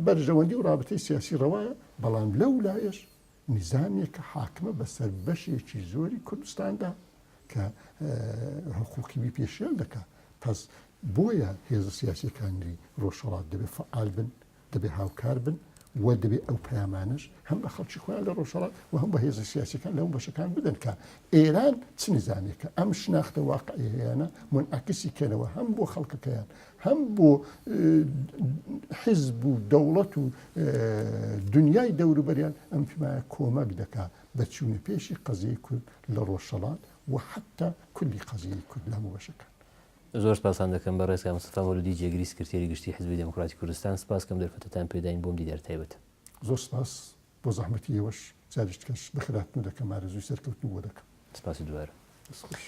بەرژەوەندی و رابطەی سیاسی ڕەوایە بەڵام لەو لایەش نزانێک کە حاکمە بەسەر بەشێکی زۆری کوردستاندا کە حقوقیبی پێشێل دەکات پس بۆیە هێزە سیاسەکانی ڕۆژهڵات دەبێت فعال بن دەبێ هاوکار بن و دەبێ ئەو پەیامانەش هەم بە خەڵکی خۆیان لە ڕۆژهەڵات و هەم بە هێزە سیاسەکان لەو بەشەکان بدەن کە ئێران چ نزانێکە ئەم شناختە واقعیانە منعکسی کەنەوە هەم بۆ خەڵکەکەیان هەم بۆ حزب و دەوڵەت و دنیای دەوروبەریان ئەم تمایە کۆمەک دەکا بە چوونە پێشی قەزیی کورد لە ڕۆژهڵات و حتا کولی قەزیی کورد لە هەموو بەشەکان زۆر سپاستان دەکەم بەڕێز کاک مستەفا مەولودی جێگری سکرتێری گشتی حیزبی دێموکڕاتی کوردستان سپاس کەم دەرفەتەتان پێ داین بۆم دیدار تایبەت. زۆر سپاس بۆ زەحمەتی ئێوەش جاریش کەش بەخێرهاتن و دەکەم ئارەزووی سەرکەوتن بۆ دەکەم. سپاسی دووبارە. دەست خۆش.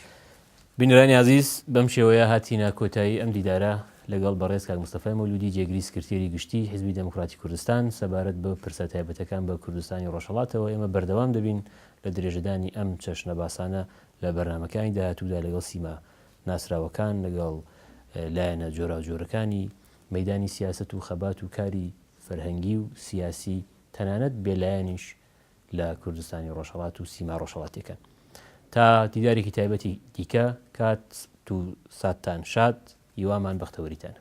بینەرانی ئازیز بەم شێوەیە هاتینە کۆتایی ئەم دیدارە لەگەڵ بەڕێز کاک مستەفای مەولودی جێگری سکرتێری گشتی حیزبی دێموکڕاتی کوردستان سەبارەت بە پرسە تایبەتەکان بە کوردستانی ڕۆژهەڵاتەوە ئێمە بەردەوام دەبین لە درێژەدانی ئەم چەشنە باسانە لە بەرنامەکانی داهاتوودا لەگەڵ سیما ناسراوەکان لەگەڵ لایەنە جۆراوجۆرەکانی مەیدانی سیاسەت و خەبات و کاری فەرهەنگی و سیاسی تەنانەت بێلایەنیش لە کوردستانی ڕۆژهڵات و سیما ڕۆژهڵاتیەکان تا دیدارێکی تایبەتی دیکە کات تو ساتان شاد هیوامان بەختەوەریتانە